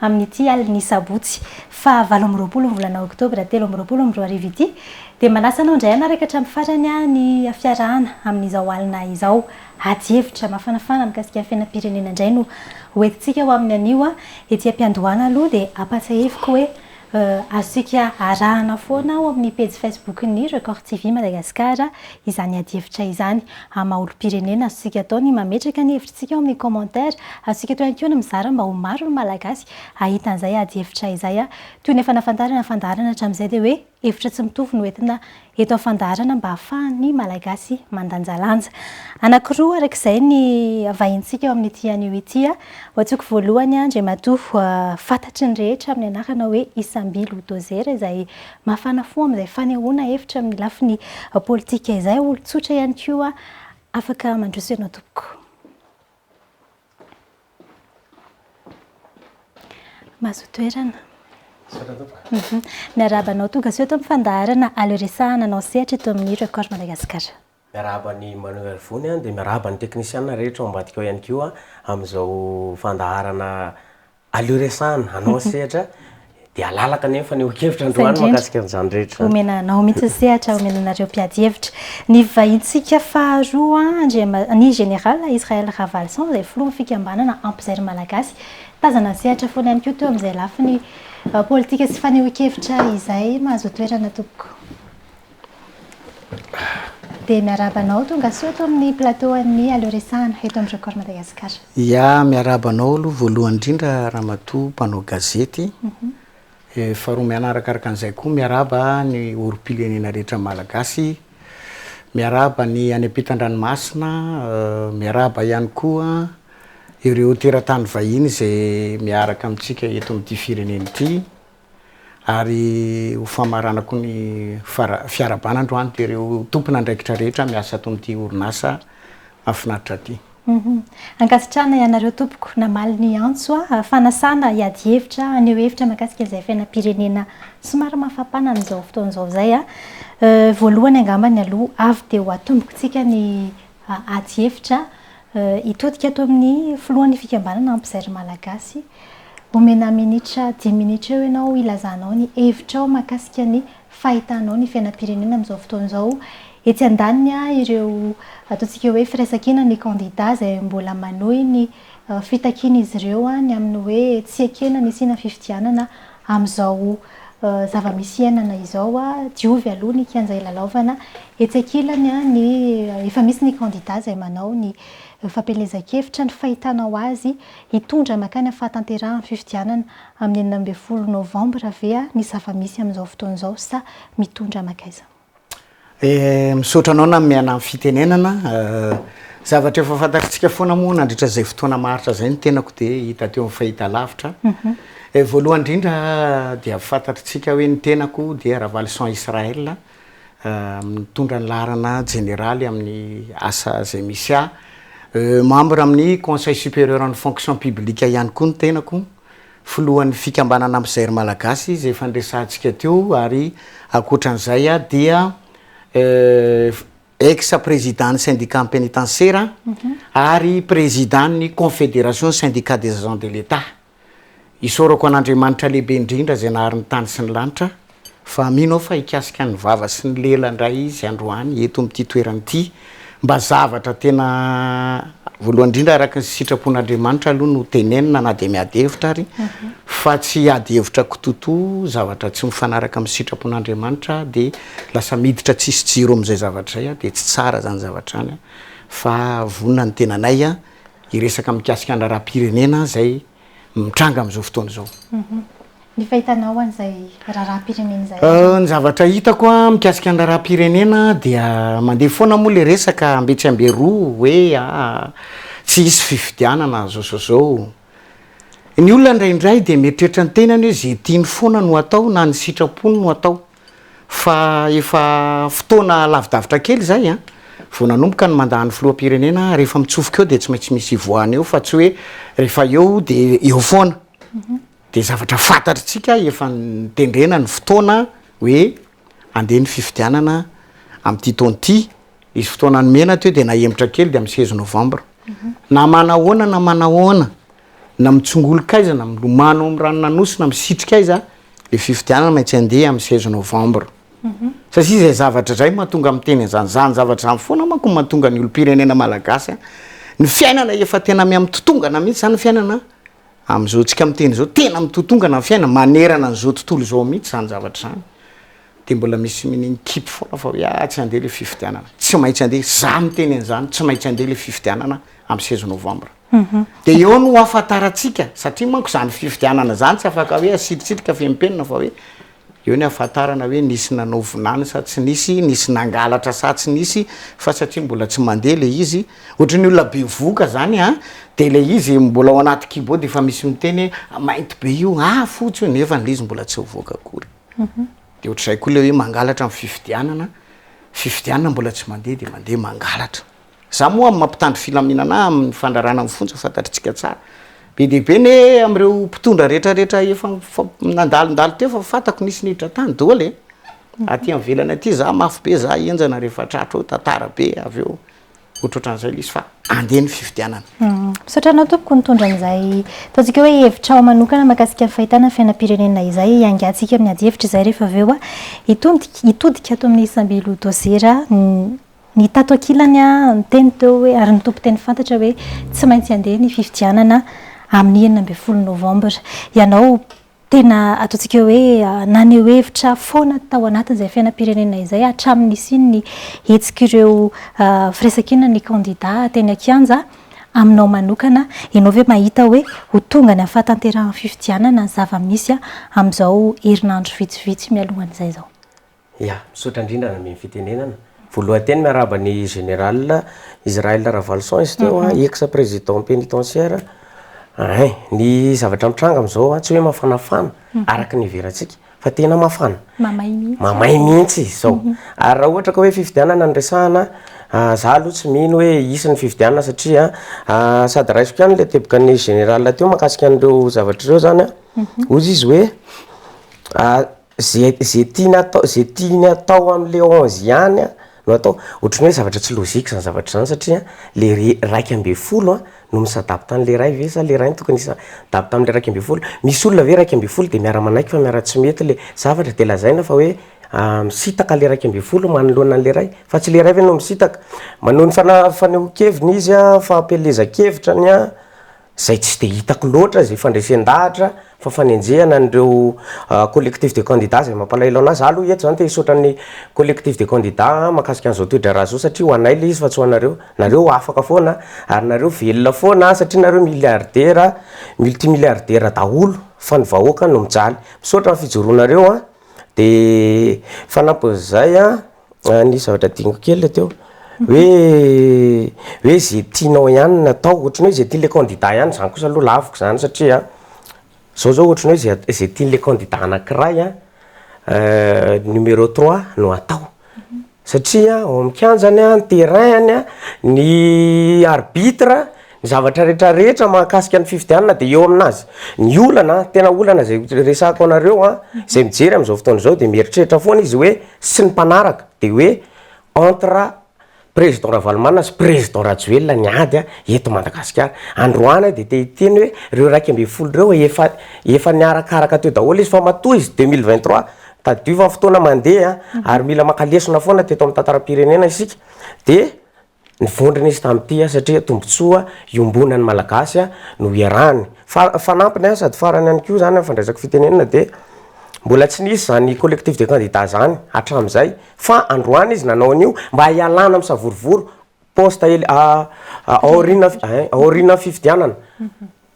Amin'ity alin'ny sabotsy faha valo amby roapolo ny volana oktobra telo amby roapolo amby roa arivo ity dia manasa anao indray hanaraka hatramin'ny farany ny fiarahana amin'izao alina izao. Ady hevitra mafanafana mikasika ny fiainam-pirenena indray no hoentintsika ho amin'ny anio. Ety am-piandohana aloha dia ampatsahiviko hoe. Azontsika arahana foana ao amin'ny pejy Facebook-n'ny Record TV Madagascar izany adihevitra izany. Amin'ny maha olom-pirenena, azontsika atao ny mametraka ny hevitritsika ao amin'ny commentaire. Azontsika atao ihany koa ny mizara mba ho maro ny Malagasy hahita an'izay adihevitra izay. Toy ny efa nahafantarana ny fandaharana hatramin'izay dia hoe hevitra tsy mitovy no entina eto amin'ny fandaharana mba hahafahan'ny Malagasy mandanjalanja. Anankiroa araka izay ny vahintsika eo amin'ity anio ity. Ho antsoiko voalohany Andriamatoa fantatry ny rehetra amin'ny anarana hoe Isamby Lodozera izay mafana fo amin'izay fanehoana hevitra amin'ny lafiny politika izay. Olon-tsotra ihany koa afaka mandroso ianao tompoko. Mahazoa toerana. Misaotra tompoko. Miarahaba anao tonga soa eto amin'ny fandaharana Aleo Resahana anao sehatra eto amin'ny Record Madagascar. Miarahaba an'i Manoel Vony dia miarahaba ny teknisiana rehetra ao ambadika ao ihany koa amin'izao fandaharana Aleo resahana, anao ny sehatra dia halalaka ny fanehoan-kevitra androany mahakasika an'izany rehetra izany. Omena anao mihitsy ny sehatra, omena anareo mpiady hevitra. Ny vahintsika faharoa, ny Général Israël Ravalison, izay filohan'ny fikambanana Ampy Zairy Malagasy. Tazana ny sehatra foana ihany koa teo amin'izay lafiny politika sy fanehoan-kevitra izay. Mahazo toerana tompoko. Dia miarahaba anao, tonga soa eto amin'ny plateau an'ny Aleo Resahana, eto amin'ny Record Madagascar. Ya, miarahaba anao aloha voalohany indrindra Ramatoa mpanao gazety. Faharoa mianarakaraka an'izay koa miarahaba ny olom-pirenena rehetra malagasy. Miarahaba ny any am-pitandranomasina, miarahaba ihany koa ireo teratany vahiny izay miaraka amintsika eto amin'ity firenena ity. ary ho famaranako ny fiarahabana androany dia ireo tompon'andraikitra rehetra miasa ato amin'ity orinasa mahafinaritra ity. Ankasitrahana ianareo tompoko namaly ny antso aho. Fanasana hiady hevitra, haneho hevitra mahakasika izay fiainam-pirenena somary mafampana amin'izao fotoana izao izay. Voalohany angambany aloha avy dia ho atombokantsika ny ady hevitra Hitodika ato amin'ny filohan'ny fikambanana Ampizaly Malagasy. Omena minitra dimy minitra eo ianao hilazanao ny hevitrao mahakasika ny fahitanao ny fiainam-pirenena amin'izao fotoana izao. Etsy andaniny ireo ataontsika hoe firaisankina ny kandida izay mbola manohy ny fitakian'izy ireo ny amin'ny hoe tsy ekena ny hisiana fifidianana Amin'izao zava-misy iainana izao, diovy aloha ny kianja ilalaovana. Etsy ankilany, ny efa misy ny kandida izay manao ny fampielezan-kevitra ny fahitanao azy hitondra mankany amin'ny fahatanterahan'ny fifidianana amin'ny enina ambin'ny folo novambra ve ny zava-misy amin'izao fotoana izao sa mitondra mankaiza? Misaotra anao nameana ny fitenenana. Zavatra efa fantatsika foana moa nandritra izay fotoana maharitra izay ny tenako dia hita teo amin'ny fahitalavitra. Voalohany indrindra dia fantatritsika hoe ny tenako dia Ravalison Israel, mitondra ny laharana jeneraly amin'ny asa izay misy ahy. Membre amin'ny Conseil Supérieur an'ny Fonction Publique ihany koa ny tenako. filohan'ny fikambanana mpizairo malagasy izay efa niresahantsika teo ary ankoatran'izay dia ex président-n'ny syndicat pénitentiaire ary président-n'ny confédération des syndicats des agents de l'Etat. Isaorako an'Andriamanitra lehibe indrindra izay nahary ny tany sy ny lanitra. fa mino aho fa hikasika ny vava sy ny lela indray izy androany eto amin'ity toerana ity, mba zavatra tena voalohany indrindra araka ny sitrapon'Andriamanitra aloha no tenenina na dia miady hevitra ary fa tsy hiady hevitra kitoto zavatra tsy mifanaraka amin'ny sitrapon'Andriamanitra dia lasa miditra tsisy jiro amin'izay zavatra izay aho dia tsy tsara izany zavatra izany fa vonona ny tenanay hiresaka mikasika ny raharaham-pirenena izay mitranga amin'izao fotoana izao. Mhm. Ny fahitanao an'izay raharaham-pirenena izay? Euh, ny zavatra hitako a mikasika ny raharaham-pirenena dia mandeha foana moa le resaka ambe tsy ambe roa hoe a tsy hisy fifidianana zao zao zao. Ny olona indraindray dia mieritreritra ny tenany hoe ze tiany foana no atao na ny sitrapony no atao. fa efa fotoana lavidavitra kely izay an, vao nanomboka ny mandat an'ny filoham-pirenena, rehefa mitsofoka eo dia tsy maintsy misy hivoahana eo fa tsy hoe rehefa eo dia eo foana, dia zavatra fantatritsika efa nitendrena ny fotoana hoe andeha ny fifidianana amin'ity taona ity, nisy fotoana nomena teo dia nahemotra kely dia amin'ny seize novembre, na manahoana na manahoana. Na mitsongolon'kaiza-na milomano ao amin'ny ranon'Anosy-na misitrika aiza le fifidianana maintsy andeha amin'ny seize novembre satria izay zavatra izay mahatonga miteny an'izany, izany zavatra izany foana manko no mahatonga ny olom-pirenena malagasy ny fiainana efa tena miha-mitotongana mihintsy izany ny fiainana amin'izao tsika miteny izao, tena mitotongana ny fiainana manerana an'izao tontolo izao mihintsy izany zavatra izany. Dia mbola misy mini-mikimpy foana fa hoe ah tsy handeha ilay fifidianana. Tsy maintsy handeha, izaho miteny an'izany, tsy maintsy handeha ilay fifidianana amin'ny seize novambra. Dia eo no hahafantarantsika, satria manko izany fifidianana izany tsy afaka hoe asiritsitika fehim-penina fa hoe eo ny hahafantarana hoe nisy nanao vinany sa tsy nisy, nisy nangalatra sa tsy nisy, fa satria mbola tsy mandeha ilay izy, ohatran'ny olona bevohoka izany an, dia ilay izy mbola ao anaty kibo dia efa misy miteny hoe mainty be io, ah fotsy io, nefa ilay izy mbola tsy nivoaka akory. dia ohatr'izay koa ilay hoe mangalatra amin'ny fifidianana, fifidianana mbola tsy mandeha dia mandeha mangalatra. Za moa amin'ny maha-mpitandro filaminana ahy amin'ny fandrarana amin'ny fonja fantatritsika tsara. Be dia be anie amin'ireo mpitondra rehetrarehetra efa nandalondalo teo fa fantako nisy niditra tany doly e! Aty ivelany aty za mafy be za henjana rehefa tratro eo, tantara be avy eo. otroatran'izay ilay izy fa andeha ny fifidianana. Misaotra anao tompoko nitondra an'izay ataontsika hoe hevitrao manokana mahakasika ny fahitana fiainam-pirenena izay hiangatsika amin'ny adihevitra izay rehefa avy eo hitodika hitodika ato amin'ny samby lodôzera ny tato ankilany niteny teo hoe ary ny tompon-teny fantatra hoe tsy maintsy andeha ny fifidianana amin'ny enina ambin'ny folo novambra ianao Tena ataontsika hoe naneho hevitra foana tao anatin'izay fiainam-pirenena izay hatramin'ny nisian'ny hetsik'ireo firaisankina ny kandida teny an-kianja. Aminao manokana, ianao ve mahita hoe ho tonga ny hafatanterahan'ny fifidianana ny zava-misy amin'izao herinandro vitsivitsy mialohan'izay izao? Ya, misaotra indrindra nanome ny fitenenana. Voalohan-teny miarahaba ny Général Israël Ravaloson izy teo an, ex président pénitentiaire. Hein, ny zavatra mitranga amin'izao an, tsy hoe mafanafana araka ny iheverantsika fa tena mafana, Mamay mihitsy. mamay mihitsy izy izao. Ary raha ohatra ka hoe fifidianana no resahana an, za aloha tsy mino hoe hisy ny fifidianana satria an, sady raisiko ihany ilay tebokan'ny Général teo mahakasika an'ireo zavatra ireo izany an, hoy izy hoe, Ze ze tiany atao ze tiany atao amle onze ihany no atao otrany hoe zavatra tsy logique zany zavatra zany satria le re raika ambin'ny folo a no mi s'adapte anle iray ve sa le iray no tokony hisa adapte amle raika ambin'ny folo misy olona ve raika ambin'ny folo de miara manaiky fa miara tsy mety le zavatra de lazaina fa hoe a misitaka le raika ambin'ny folo manoloana anle iray fa tsy le iray ve no misitaka manao ny fana- fanehoan-keviny izy a fampielezan-kevitra ny a. izay tsy dia hitako loatra izay fandresen-dahatra fa fanenjehana an'ireo collectif de candidats izay mampalahelo an'ahy, za aloha eto zany te hisaotra an'ny collectif de candidats an mahakasika an'izao toedraharaha zao satria ho anay ilay izy fa tsy ho anareo, nareo afaka foana ary nareo velona foana an satria nareo milliardaires, multimilliardaires daholo fa ny vahoaka no mijaly, misaotra amin'ny fijoroanareo an, dia fanampin'izay an. Ah, nisy zavatra adinoko kely le teo. Hoe hoe ze tianao ihany no atao, ohatran'ny hoe ze tian'le candidat ihany, zany kosa aloha laviko zany satria an, zao zao ohatran'ny hoe ze at- ze tian'le candidat anakiray an, numéro trois no atao, satria ao amin'ny kianjany an, ny terrain-ny an, ny arbitre an, Ny zavatra rehetra rehetra mahakasika ny fifidianana dia eo amin'azy. Ny olana, tena olana izay resahako anareo an, izay mijery amin'izao fotoana izao dia mieritreritra foana izy hoe, sy ny mpanaraka, dia hoe entre président Ravalomanana sy président Rajoelina ny ady an, eto Madagasikara. Androany dia te hiteny hoe, ireo iraika ambin'ny folo ireo efa, efa niarakaraka teo daholo izy fa matoa izy deux mille vingt trois, tadidio fa fotoana mandeha an, ary mila maka lesona foana teto amin'ny tantaram-pirenena isika, dia Nivondrona izy tamin'ity satria tombontsoa iombonan'ny Malagasy no iarahany. Fa fanampiny sady farany ihany koa izany amin'ny fandraisako fitenenana dia mbola tsy nisy izany collectif de candidats izany hatramin'izay fa androany izy nanao an'io mba hialana amin'ny savorovoro poste aoriana fifidianana.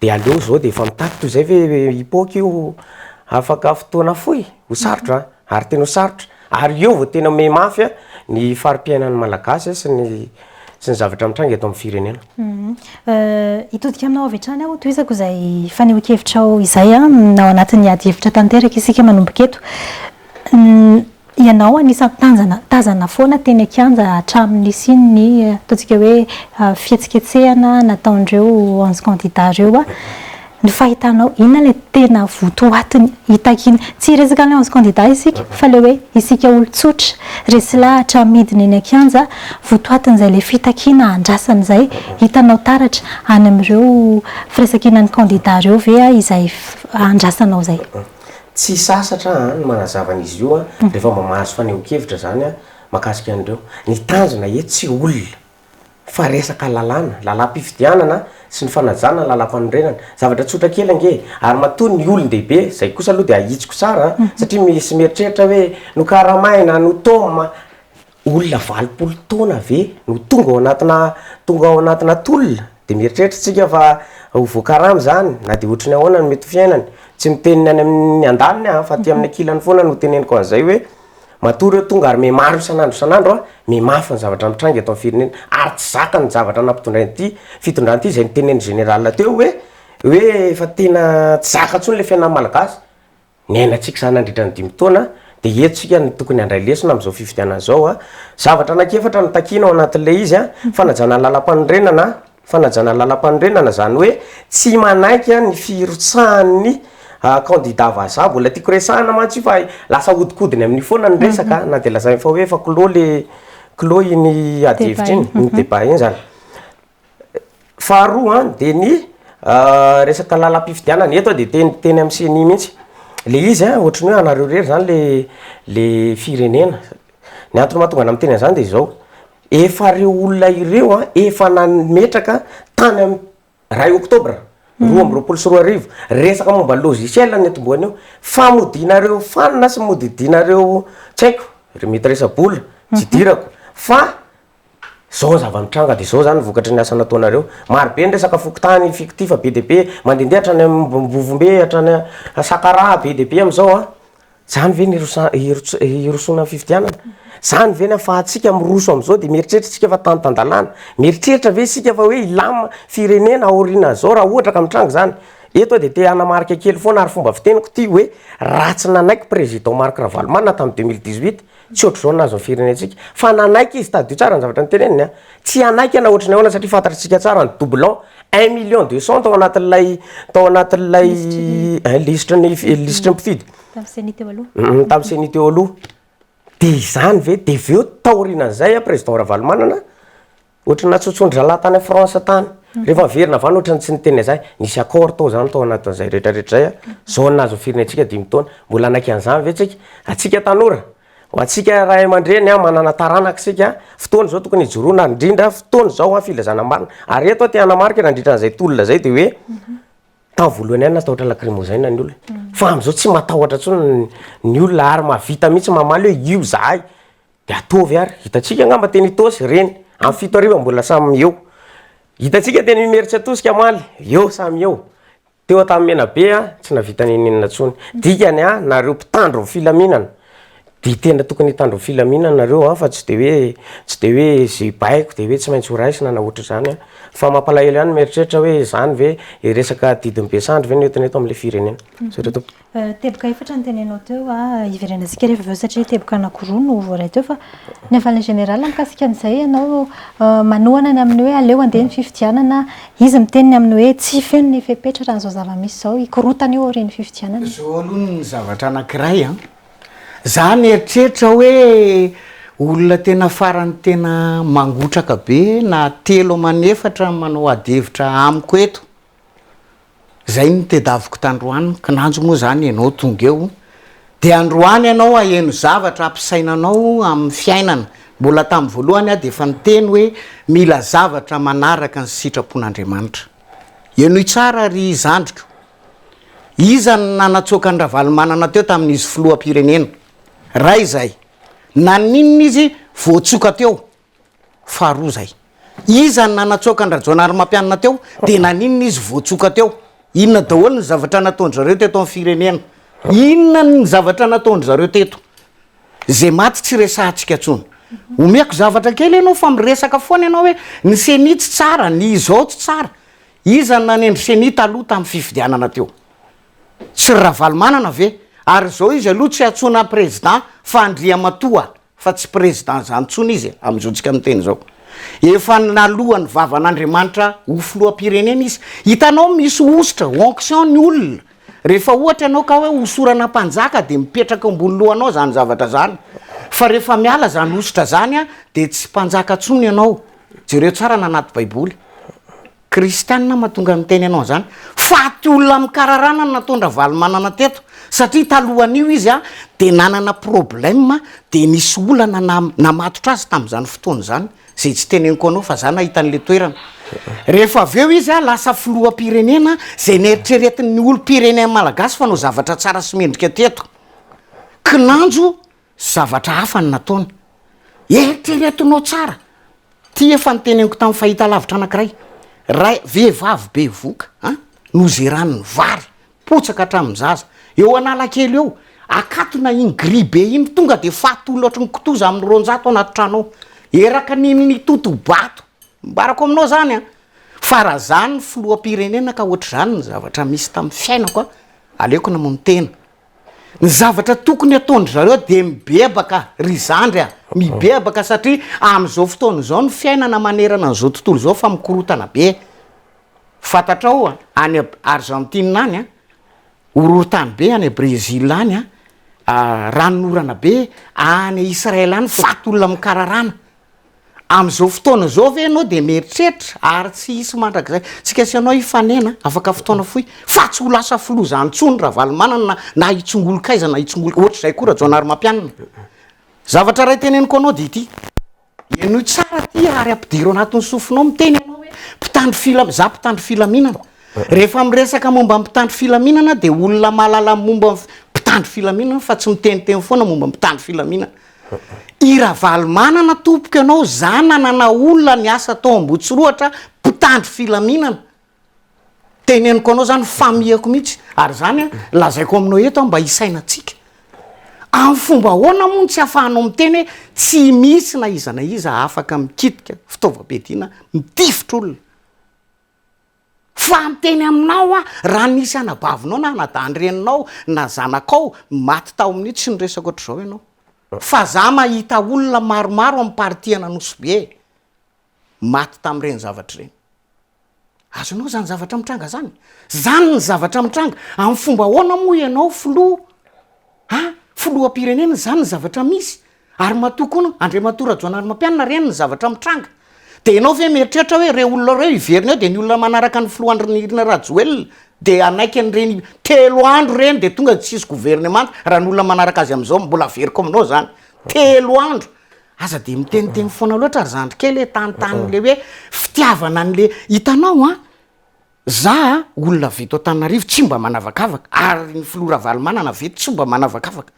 De aleo zao de efa mitaky toy zay ve hipoaka io afaka fotoana fohy? Ho sarotra an! Ary tena ho sarotra. Ary eo vao tena miha mafy ny fari-piainan'ny Malagasy sy ny sy ny zavatra mitranga eto amin'ny firenena. Hitodika aminao avy hatrany aho tohizako izay fanehoan-kevitrao izay an, ao anatin'ny ady hevitra tanteraka isika manomboka eto. Ianao anisan'ny tanjana tazana foana teny an-kianja hatramin'ny nisian'ny ataontsika hoe fihetsiketsehana nataon'ireo onze candidats ireo. Ny fahitanao, inona ilay tena votoatiny hitakiana? Tsy hiresaka an'ilay onze candidats isika fa ilay hoe isika olon-tsotra, resy lahatra midina eny an-kianja, votoatin'izay ilay fitakiana andrasana izay. Hitanao taratra any amin'ireo firaisankinan'ny candidats ireo ve izay andrasanao izay? Tsy sasatra aho ny manazava an' izy io rehefa mba mahazo fanehoan-kevitra izany aho mahakasika an'ireo. Ny tanjona eto tsy olona fa resaka lalàna, lalàm-pifidianana sy ny fanajana ny lalàm-panorenana. Zavatra tsotra kely ange e! Ary matoa ny olon-dehibe, izay kosa aloha dia ahitsiko tsara satria misy mieritreritra hoe nokaramaina, notôma. Olona valopolo taona ve no tonga ao anatina tonga ao anatina tolona? Dia mieritreritra isika fa ho voakarama izany na dia ohatry ny ahoana no mety ho fiainany. Tsy miteny ny any amin'ny andaniny aho fa aty amin'ny ankilany foana no teneniko an'izay hoe matoa ireo tonga ary mihamaro isan'andro isan'andro an, mihamafy ny zavatra mitranga eto amin'ny firenena ary tsy zakany ny zavatra nampitondrain'ity fitondrana ity izay notenenin'ny général teo hoe hoe efa tena tsy zaka intsony ilay fiainan'ny malagasy. niainantsika izany nandritra ny dimy taona dia eto isika no tokony handray lesona amin'izao fifidianana izao. Zavatra anankiefatra no takiana ao anatin'ilay izy, fanajana ny lalam-panorenana, fanajana ny lalam-panorenana izany hoe tsy manaiky ny firotsahan'ny kandida vazaha, mbola tiako resahina mantsy io fa lasa ahodikodiny amin'io foana ny resaka na dia lazaina fa hoe efa clos ilay clos iny ady hevitra iny, iny débat iny izany. Faharoa an, dia ny resaka lalam-pifidianana, eto aho dia teny teny amin'ny ceni mihitsy, ilay izy an, ohatran'ny hoe anareo irery izany ilay ilay firenena, ny antony mahatonga anà miteny an'izany dia izao, efa ireo olona ireo an, efa nametraka tany am iray oktobra roa amby roapolo sy roa arivo, resaka momba ny logiciel no nitomboany eo, famodianareo fanina sy modidiana ireo tsy haiko, mety resa-bola, tsy idirako, fa Zao zava-nitranga dia zao zany vokatry ny asa nataonareo. Maro be ny resaka fokontany, fikoty fa be dia be, mandehandeha hatrany Ambovombe, hatrany Sakaraha, be dia be amin'izao an. Zany ve no hirosoana amin'ny fifidianana? Zany ve no afahantsika miroso amin'izao dia mieritreritra isika fa tany tan-dalàna? Mieritreritra ve isika fa hoe hilamina firenena aorianan'izao raha ohatra ka mitranga izany? Eto aho dia te hanamarika kely foana ary fomba fiteniko ity hoe raha tsy nanaiky Président Marc Ravalomanana tamin'ny deux mille dix-huit Tsy ohatr'izao nahazo ny firenentsika. Fa nanaiky izy, tadidio tsara ny zavatra noteneniny an! Tsy hanaiky ianao ohatry ny ahoana satria fantatritsika tsara ny doublon, un million deux cent tao anatin'ilay tao anatin'ilay lisitry ny lisitry ny mpifidy. Tamin'ny ceni teo aloha. Humm tamin'ny ceni teo aloha. Dia izany ve? Dia avy eo taorianan'izay an, président Ravalomanana, Ohatry ny natsotson-dRalahy tany France tany. Rehefa niverina avy any ohatry ny tsy niteny an'izany. Nisy accord tao izany tao anatin'izay rehetrarehetra izay. Zone azon'ny firenentsika dimy taona. Mbola hanaiky an'izany ve tsika? Antsika tanora, ho antsika ray aman-dreny manana taranaka isika, fotoana izao tokony hijoroana indrindra, fotoana izao filazana marina. Ary eto aho te hanamarika nandritra an'izay tolona izay dia hoe tamin'ny voalohany ihany natahotra lakrimozena ny olona. Fa amin'izao tsy matahotra intsony ny olona ary mahavita mihitsy mamaly hoe io izahay. Dia ataovy ary, hitantsika angamba teny Itaosy ireny, amin'ny fito hariva mbola samy eo. Hitantsika teny Imerintsiatosika omaly, eo samy eo. Teo Antahimenabe tsy nahavita n'inon'inona intsony. Dikany a, nareo mpitandro ny filaminana, dia tena tokony hitandro ny filaminana nareo fa tsy dia hoe, tsy dia hoe izay baiko dia hoe tsy maintsy ho raisina na ohatr'izany a. Fa mampalahelo ihany ny mieritreritra hoe izany ve, resaka didin'ny be sandry ve no entina eto amin'ilay firenena. Zay raha tompoko. Teboka efatra no tenenao teo an, hiverena isika rehefa avy eo satria teboka anankiroa no voaray teo fa ny havan'ny Général mikasika an'izay ianao manohana ny amin'ny hoe aleo handeha ny fifidianana, izy miteny ny amin'ny hoe tsy feno ny fepetra raha izao zava-misy izao, hikorotana io aorian'ny fifidianana. Zao aloha ny zavatra anankiray an, za mieritreritra hoe olona tena farany tena mangotraka be na telo aman'efatra manao ady hevitra amiko eto, Zay no tedaviko tandroany, kinanjo moa zany enao tonga eo de androany enao aheno zavatra ampisaina anao amin'ny fiainana, mbola tamin'ny voalohany aho de efa niteny hoe mila zavatra manaraka ny sitrapon'Andriamanitra, enoy tsara ry zandriko, iza no nanatsoaka an'i Ravalomanana teo tamin'izy filoham-pirenena? Ray zay, naninona izy voatsoka teo? Faharoa zay. Iza no nanatsoaka an-dRajaonarimampianina teo? De naninona izy vao tsoka teo? Inona daholo ny zavatra nataon-dry zareo teto amin'ny firenena? Inona ny zavatra nataon-dry zareo teto? Zay maty tsy resahantsika tsony. Omeko zavatra kely enao fa miresaka foana enao hoe ny ceni tsy tsara, ny izao tsy tsara. Iza no nanendry ceni taloha tamin'ny fifidianana teo? Tsy ry Ravalomanana ve? Ary zao izy aloha tsy antsoina president fa Andriamatoa. Fa tsy président zany tsony izy e amin'izao tsika miteny zao. Efa naloa ny vavan'Andriamanitra ho filoham-pirenena izy. Hitanao misy hosotra, onction ny olona. Rehefa ohatra ianao ka hoe hosorana mpanjaka dia mipetraka eo ambony lohanao zany zavatra zany. Fa rehefa miala zany hosotra zany dia tsy mpanjaka tsony ianao. Jereo tsara ny anaty baiboly. Kristianina mahatonga miteny anao izany? Faty olona amin'ny kararana no nataon'i Ravalomanana teto satria talohan'io izy dia nanana problème dia nisy olana namatotra azy tamin'izany fotoana izany izay tsy teneniko anao fa za nahita an'ilay toerana. Rehefa avy eo izy lasa filoham-pirenena izay neritreretin'ny olom-pirenena malagasy fanao zavatra tsara sy mendrika teto. Kinanjo Zavatra hafa no nataony. Eritreretinao tsara ity efa noteneniko tamin'ny fahitalavitra anankiray. Ray, vehivavy bevoka an, nozerany ny vary, potsaka hatramin'ny zaza. Eo Analakely eo, akatona iny gris be iny, tonga dia faty olotry ny kitoza amin'ny roanjato ao anaty trano ao. Eraka ny nitoto-bato. Ambarako aminao izany an. Fa raha izaho no filoham-pirenena ka ohatr'izany ny zavatra nisy tamin'ny fiainako an, aleoko namono tena Ny zavatra tokony hataon-dry zareo dia mibebaka ry zandry a! Mibebaka satria amin'izao fotoana izao ny fiainana manerana an'izao tontolo izao fa mikorotana be. Fantatrao any Arzantina any a, horohorontany be, any Brezila any a, ranon'orana be, any Israel any faty olona mikararana. Amin'izao fotoana izao ve ianao dia mieritreritra ary tsy hisy mandrakizay? Tsika sy ianao hifanena afaka fotoana fohy fa tsy ho lasa filoha izany intsony Ravalomanana na hitsongolokaiza na hitsongolo ohatr'izay koa Rajaonarimampianina. Zavatra iray teneniko anao dia ity, henoy tsara ity ary ampidiro anatin'ny sofinao, miteny ianao hoe mpitandro filam, izaho mpitandro filaminana. Rehefa miresaka momba ny mpitandro filaminana dia olona mahalala momba ny mpitandro filaminana fa tsy miteniteny foana momba ny mpitandro filaminana. I Ravalomanana tompoko ianao zanana na olona niasa tao Ambohitsirohatra mpitandro filaminana teneniko anao zany famihako mihitsy ary zany lazaiko aminao eto mba hisainatsika amin'ny fomba ahoana moa no tsy afahanao miteny hoe tsy misy na iza na iza afaka mikitika fitaovam-piadiana mitifitra olona Fa miteny aminao aho, raha nisy anabavinao na anadahin-dreninao na zanakao maty tao amin'io, tsy niresaka ohatr'izao ianao. Fa za mahita olona maromaro amin'ny parti an'Anosibe maty tamin'ireny zavatra ireny. Azonao izany zavatra mitranga izany? Izany ny zavatra mitranga. Amin'ny fomba ahoana moa ianao filoha, an, filoham-pirenena izany ny zavatra misy? Ary matoa koa Andriamatoa Rajaonarimampianina reny ny zavatra mitranga. Dia ianao ve mieritreritra hoe ireo olona ireo hiverina eo dia ny olona manaraka ny filoha Andrinirina Rajoelina dia hanaiky an'ireny telo andro ireny dia tonga dia tsy hisy governemanta raha ny olona manaraka azy amin'izao mbola averiko aminao izany. Telo andro! Aza dia miteniteny foana loatra ry zandry kely e, tantano ilay hoe fitiavana an'ilay, hitanao an! za olona avy eto Antananarivo tsy mba manavakavaka ary ny filoha Ravalomanana avy eto tsy mba manavakavaka.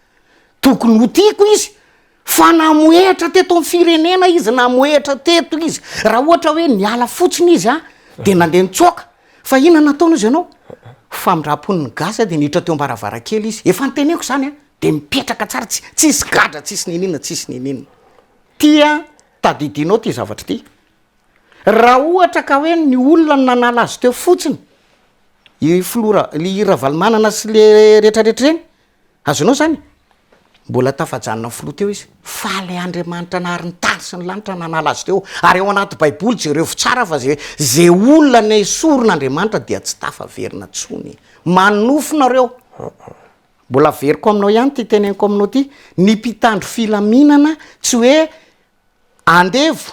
Tokony ho tiako izy fa namohehatra teto amin'ny firenena izy, namohehatra teto izy. Raha ohatra hoe niala fotsiny izy an, dia nandeha nitsoaka. Fa inona no nataony hozy ianao? Ho famindram-pon'ny gasy an, dia niditra teo am-baravarankely izy. Efa noteneniko izany an, dia mipetraka tsara, tsy tsisy gadra, tsisy niniana, tsisy niniana. Ty an, tadidinao ty zavatra ty. Raha ohatra ka hoe ny olona no nanala azy teo fotsiny, i filoha Ra, i Ravalomanana sy le retraretra ireny, Azonao izany? Mbola tafajanona ny filoha teo izy. Faly Andriamanitra nahary ny tany sy ny lanitra nanala azy teo. Ary ao anaty baiboly, jerevo tsara fa ze, ze olona nesorin' Andriamanitra dia tsy tafaverina tsony. Manofy nareo. Mbola averiko aminao ihany ity teneniko aminao ity, ny mpitandro filaminana tsy hoe andevo,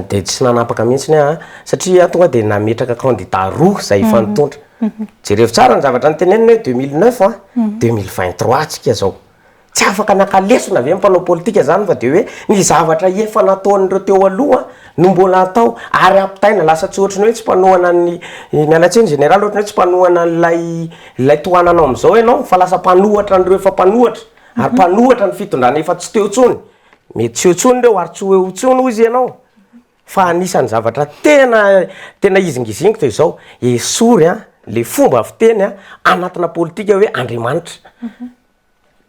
dia tsy nanapaka mihitsy aho satria aho tonga dia nametraka kandida roa izay hifanontontra. Jerevo tsara ny zavatra noteneniny hoe deux mille neuf an, deux mille vingt trois tsika izao. Tsy afaka naka lesona ve ny mpanao politika izany fa dia hoe ny zavatra efa nataon'ireo teo aloha no mbola hatao ary ampitaina. Lasa tsy ohatran'ny hoe tsy mpanohana an'i, miala tsiny Général, ohatran'ny hoe tsy mpanohana an'ilay ilay tohananao amin'izao ianao fa lasa mpanohatra an'ireo efa mpanohatra ary mpanohatra ny fitondrana efa tsy teo intsony. Mety tsy eo intsony ireo ary tsy ho eo intsony hoy izy ianao. Fa anisan'ny zavatra tena tena izingizingy dia izao, esory an, ilay fomba fiteny an, anatina politika hoe Andriamanitra.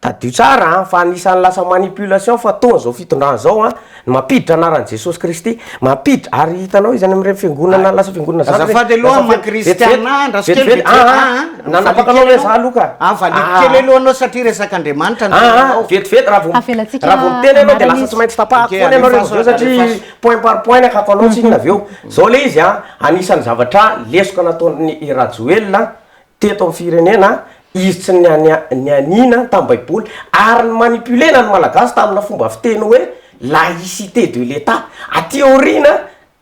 Tadidio tsara an, fa anisan'ny lasa manipulation fataon'izao fitondrana izao an, ny mampiditra anaran'i Jesosy Kristy. Mampiditra, ary hitanao izy any amin'ireny fiangonana lasa fiangonana zandry ireny. Azafady aloha Maman Christiana, andraso kely vetivety. Aa ah, ah, nanapaka anao ilay izaho aloha ka. Aa, valiako kely aloha anao satria resak'Andriamanitra no teninao. Aa, vetivety, raha vao Avelatsika raha vao miteny ianao dia lasa tsy maintsy tapahako foana ianao rehefa avy eo satria point par point ny hakatonao, tsinona avy eo. Izao ilay izy an, anisan'ny zavatra lesoka nataon'i Rajoelina teto am firenena izy tsy niania nianiana tam baiboly ary ny manipulena ny malagasy tamina fomba fiteny hoe laïcité de l'etat aty aoriana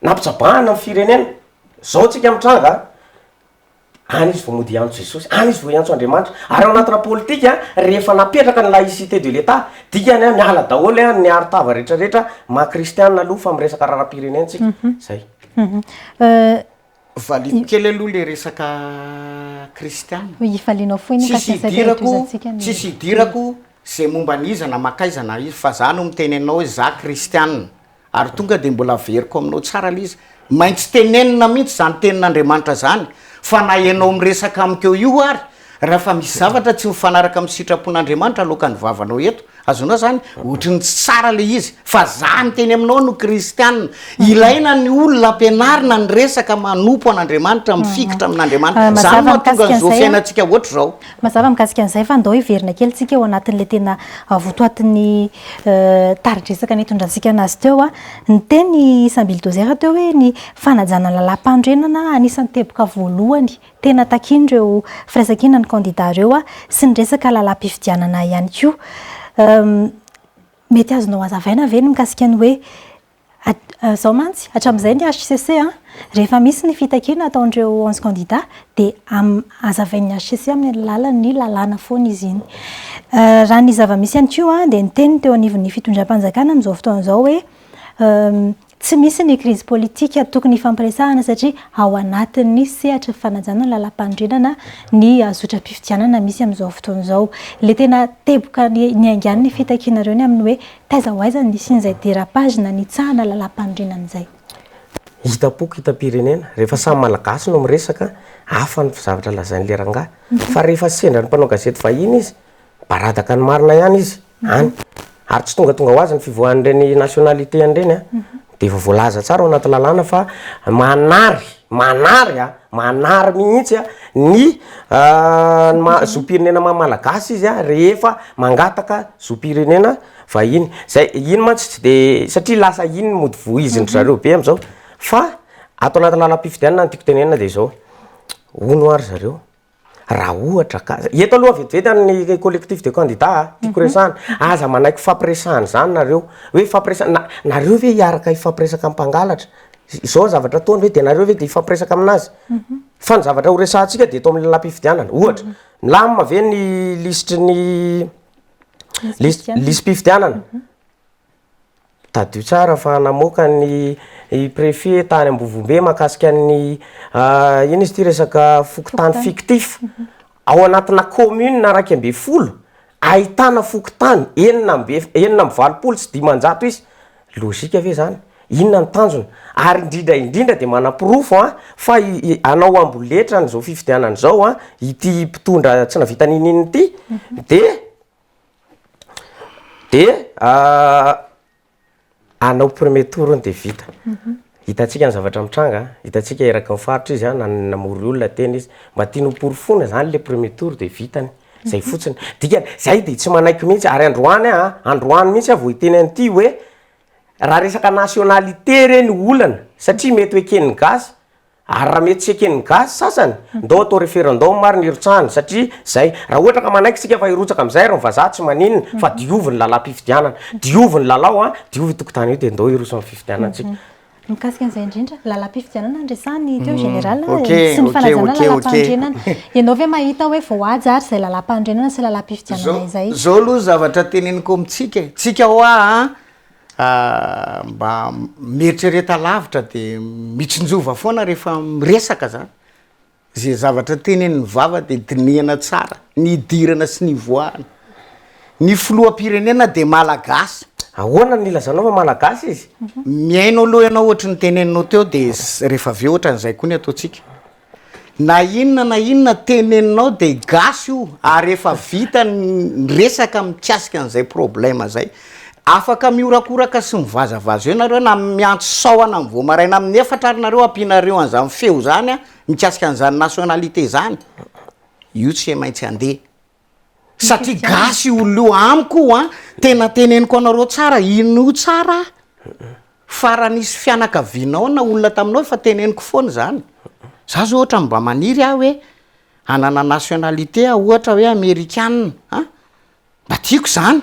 nampitsabahana ny firenena zao tsika mitranga a any izy vao mody hiantso jesosy any izy vao hiantso andriamanitra ary ao anatina politika rehefa napetraka ny laïcité de l'etat dikany a miala daholo a ny aro tava retraretra maha kristiana aloha fa miresaka raharaham pirenena tsika zay Valio kely aloha le resaka kristiana. Hoe ifalianao fohy ny Tsisy kasasay idirako, toeram-pizatsika ny. tsisy idirako zay momba an'iza na makaiza na iza fa za no miteny anao hoe za kristiana ary tonga de mbola averiko aminao tsara le izy, maintsy tenenina mihitsy zany tenin'Andriamanitra zany fa na ianao miresaka amiko eo io ary Raha fa misy zavatra tsy mifanaraka amin'ny sitrapon'Andriamanitra aloakan'ny vavanao eto, azonao izany? Ohatry ny tsy tsara ilay izy, fa za miteny aminao no kristianina. Ilaina ny olona ampianarina ny resaka manompo an'Andriamanitra, mifikitra amin'Andriamanitra. Izany no mahatonga an'izao fiainantsika ohatry izao. Mazava mikasika an'izay fa andao hiverina kely tsika ao anatin'ilay tena votoatin'ny tari-dresaka nitondrantsika anazy teo. Niteny i Sambili Dozer teo hoe ny fanajana ny lalàm-panorenana anisan'ny teboka voalohany Tena takiany ireo firaisankina ny kandida ireo sy ny resaka lalam-pifidianana ihany koa. Mety azonao hazavaina ve ny mikasika ny hoe izao mantsy hatramin'izay ny hcc rehefa misy ny fitakiana ataon'ireo onze kandida dia hazavain'ny hcc amin'ny alalan'ny lalàna foana izy iny. Raha ny zava-misy ihany koa dia niteny ny teo anivon'ny fitondram-panjakana amin'izao fotoana izao hoe Tsy misy ny krizy politika tokony hifampiresahana satria ao anatin'ny sehatry ny fanajana ny lalampanorenana ny zotram-pifidianana misy amin'izao fotoana izao. Ilay tena teboka niaingan'ny fitakianareo ny amin'ny hoe taiza ho aiza ny nisian'izay dérapage na nitsahana lalampanorenana izay. Hitam-poko hitam-pirenena, rehefa samy malagasy no miresaka, hafa ny zavatra lazain'ilay rangahy. Fa rehefa sendra ny mpanao gazety vahiny izy, mibaradaka ny marina ihany izy. any, ary tsy tongatonga ho azy ny fivoahan'ireny nationalité any ireny an, dia efa voalaza tsara ao anaty lalàna fa manary, manary an, manary mihitsy an, ny maha zom-pirenena maha malagasy izy an, rehefa mangataka zom-pirenena vahiny, izay, iny mantsy tsy dia, satria lasa iny mody vohizin-dry zareo be amin'izao, fa ato anaty lalam-pifidianana ny tiako tenenina dia izao, hono ho'a ry zareo. Raha ohatra ka, eto aloha vetivety an'ny collectif des candidats a, tiako resahana, aza manaiky hifampiresahana izany nareo, hoe hifampiresahana, na, nareo ve hiaraka hifampiresaka amin'ny mpangalatra? izao ny zavatra ataony ve dia nareo ve dia hifampiresaka amin'azy? fa ny zavatra ho resahantsika dia eto amin'ny lalàm-pifidianana, ohatra, milamina ve ny lisitry ny, lis-, lisi-pifidianana? Tadidio tsara fa namoaka ny prefet tany ambovombe mahakasika ny inona izy ity resaka fokontany fictif ao anatina commune iraika ambin'ny folo ahitana fokontany enina amby enina amby valopolo sy dimanjato isa, logique ve zany? inona ny tanjona? ary indrindra indrindra dia manaporofo an fa hanao amboletra an'izao fifidianana izao an ity mpitondra tsy nahavita n'inon'inona ity dia Dia hanao premier tour hono dia vita. Hitantsika ny zavatra mitranga an, hitantsika eraky ny faritra izy an, nan- namory olona teny izy. Mba tiany hoporofoina izany ilay premier tour dia vitany. Izay fotsiny. Dikany, izahay dia tsy manaiky mihitsy ary androany an, androany mihitsy aho vao hiteny an'ity hoe raha resaka nationalité re no olana satria mety ho eken'ny gasy, Ary raha mety tsy eken'ny gasy sasany, ndao atao referendum ary ny hirotsahany, satria zay, raha ohatra ka manaiky tsika fa hirotsaka amizay ary ny vazaha tsy maninona, fa diovy ny lalam-pifidianana, diovy ny lalao an, diovy io tokotany io dia ndao hiroso amin'ny fifidianana tsika. Mikasika an'izay indrindra, lalam-pifidianana no resahiny teo Général a, sy ny fanajana ny lalam-panorenana. Ianao ve mahita hoe voahaja ary izay lalam-panorenana sy lalam-pifidianana izay? Zao aloha zavatra teneniko amintsika e, tsika hoa an, A, mba mieritrereta lavitra de mitsinjova foana rehefa miresaka zany. Ze zavatra tenenin'ny vava de dinihana tsara, ny idirana sy ny ivoahana. Ny filoham-pirenena de malagasy. Ahoana no ilazanao fa malagasy izy? Mihaino aloha ianao ohatry ny teneninao teo de rehefa avy eo ohatran'izay koa ny ataontsika. Na inona na inona teneninao dia gasy io ary efa vita ny resaka mikasika an'izay problème izay. Afaka mihorakoraka sy mivazavaza eo nareo na miantso sahona amin'ny vao maraina amin'ny efatra ary nareo ampianareo an'izany feo izany mikasika an'izany nationalité izany, io tsy maintsy andeha. satria gasy io olona io amiko io an tena teneniko anareo tsara ino io tsara fa raha nisy fianakavianao na olona taminao efa teneniko foana izany za zao ohatra mba maniry aho hoe hanana nationalité aho ohatra hoe amerikana an mba tiako izany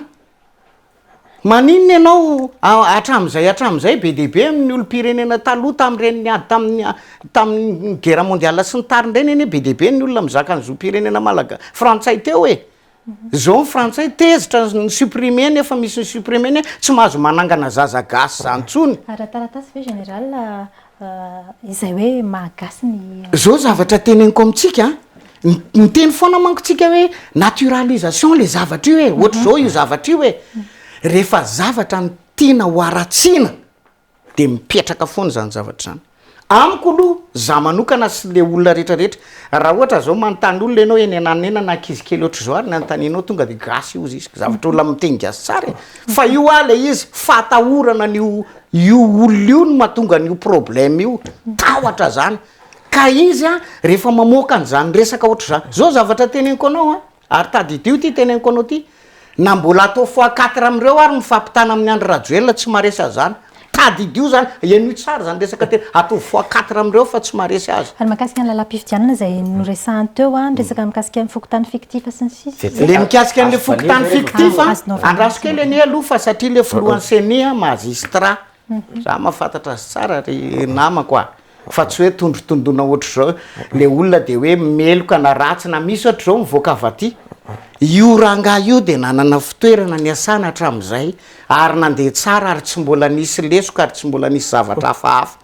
Maninona ianao hatramin'izay hatramin'izay be dia be amin'ny olom-pirenena taloha tamin'ireny niady tamin'ny tamin'ny guerre mondiale sy ny tariny ireny anie be dia be ny olona mizaka ny zom-pirenena malaga-, frantsay teo e! Izao ny frantsay tezitra ny supprimer ny efa misy ny supprimer ny tsy mahazo manangana zaza gasy izany intsony. Ara-taratasy ve général izay hoe maha gasy ny. Zao zavatra teneniko amintsika an, miteny foana manko tsika hoe naturalisation le zavatra io e, ohatra zao io zavatra io e, rehefa zavatra ny tiana ho aratsiana de mipetraka foana zany zavatra zany. Amiko aloha za manokana sy le olona rehetra rehetra, raha ohatra zao manontany olona enao eny ananena na ankizy kely ohatra zao ary ny anontanianao tonga de gasy io izy, zavatra olona miteny gasy tsara e, fa io hoa le izy fahatahorana ny ho Io olona io no mahatonga an'io problème io, tahotra zany. Ka izy an, rehefa mamoaka an'izany resaka ohatr'izany, zao zavatra teneniko anao an, ary tadidio ty teneniko anao ty, na mbola atao fois quatre amin'ireo ary mifampitana amin'i Andry Rajoelina tsy maharesy an'izany, tadidio zany, henoy tsara zany resaka tena, ataovy fois quatre amin'ireo fa tsy maharesy azy. Ary mahakasika ny lalam-pifidianana izay noresahany teo an, ny resaka mikasika ny fokontany fictif sy ny sisa. Le mikasika an'le fokontany fictif a, andraso kely anie aloha fa satria le filohan'ny ceni a, magistrat, za mahafantatra azy tsara ry namako a, fa tsy hoe tondrotondona ohatr'izao le olona de hoe meloka na ratsy na misy ohatr'izao mivoaka avy aty, io rangahy io de nanana fitoerana niasana hatramin'izay ary nandeha tsara ary tsy mbola nisy lesoka ary tsy mbola nisy zavatra hafahafa.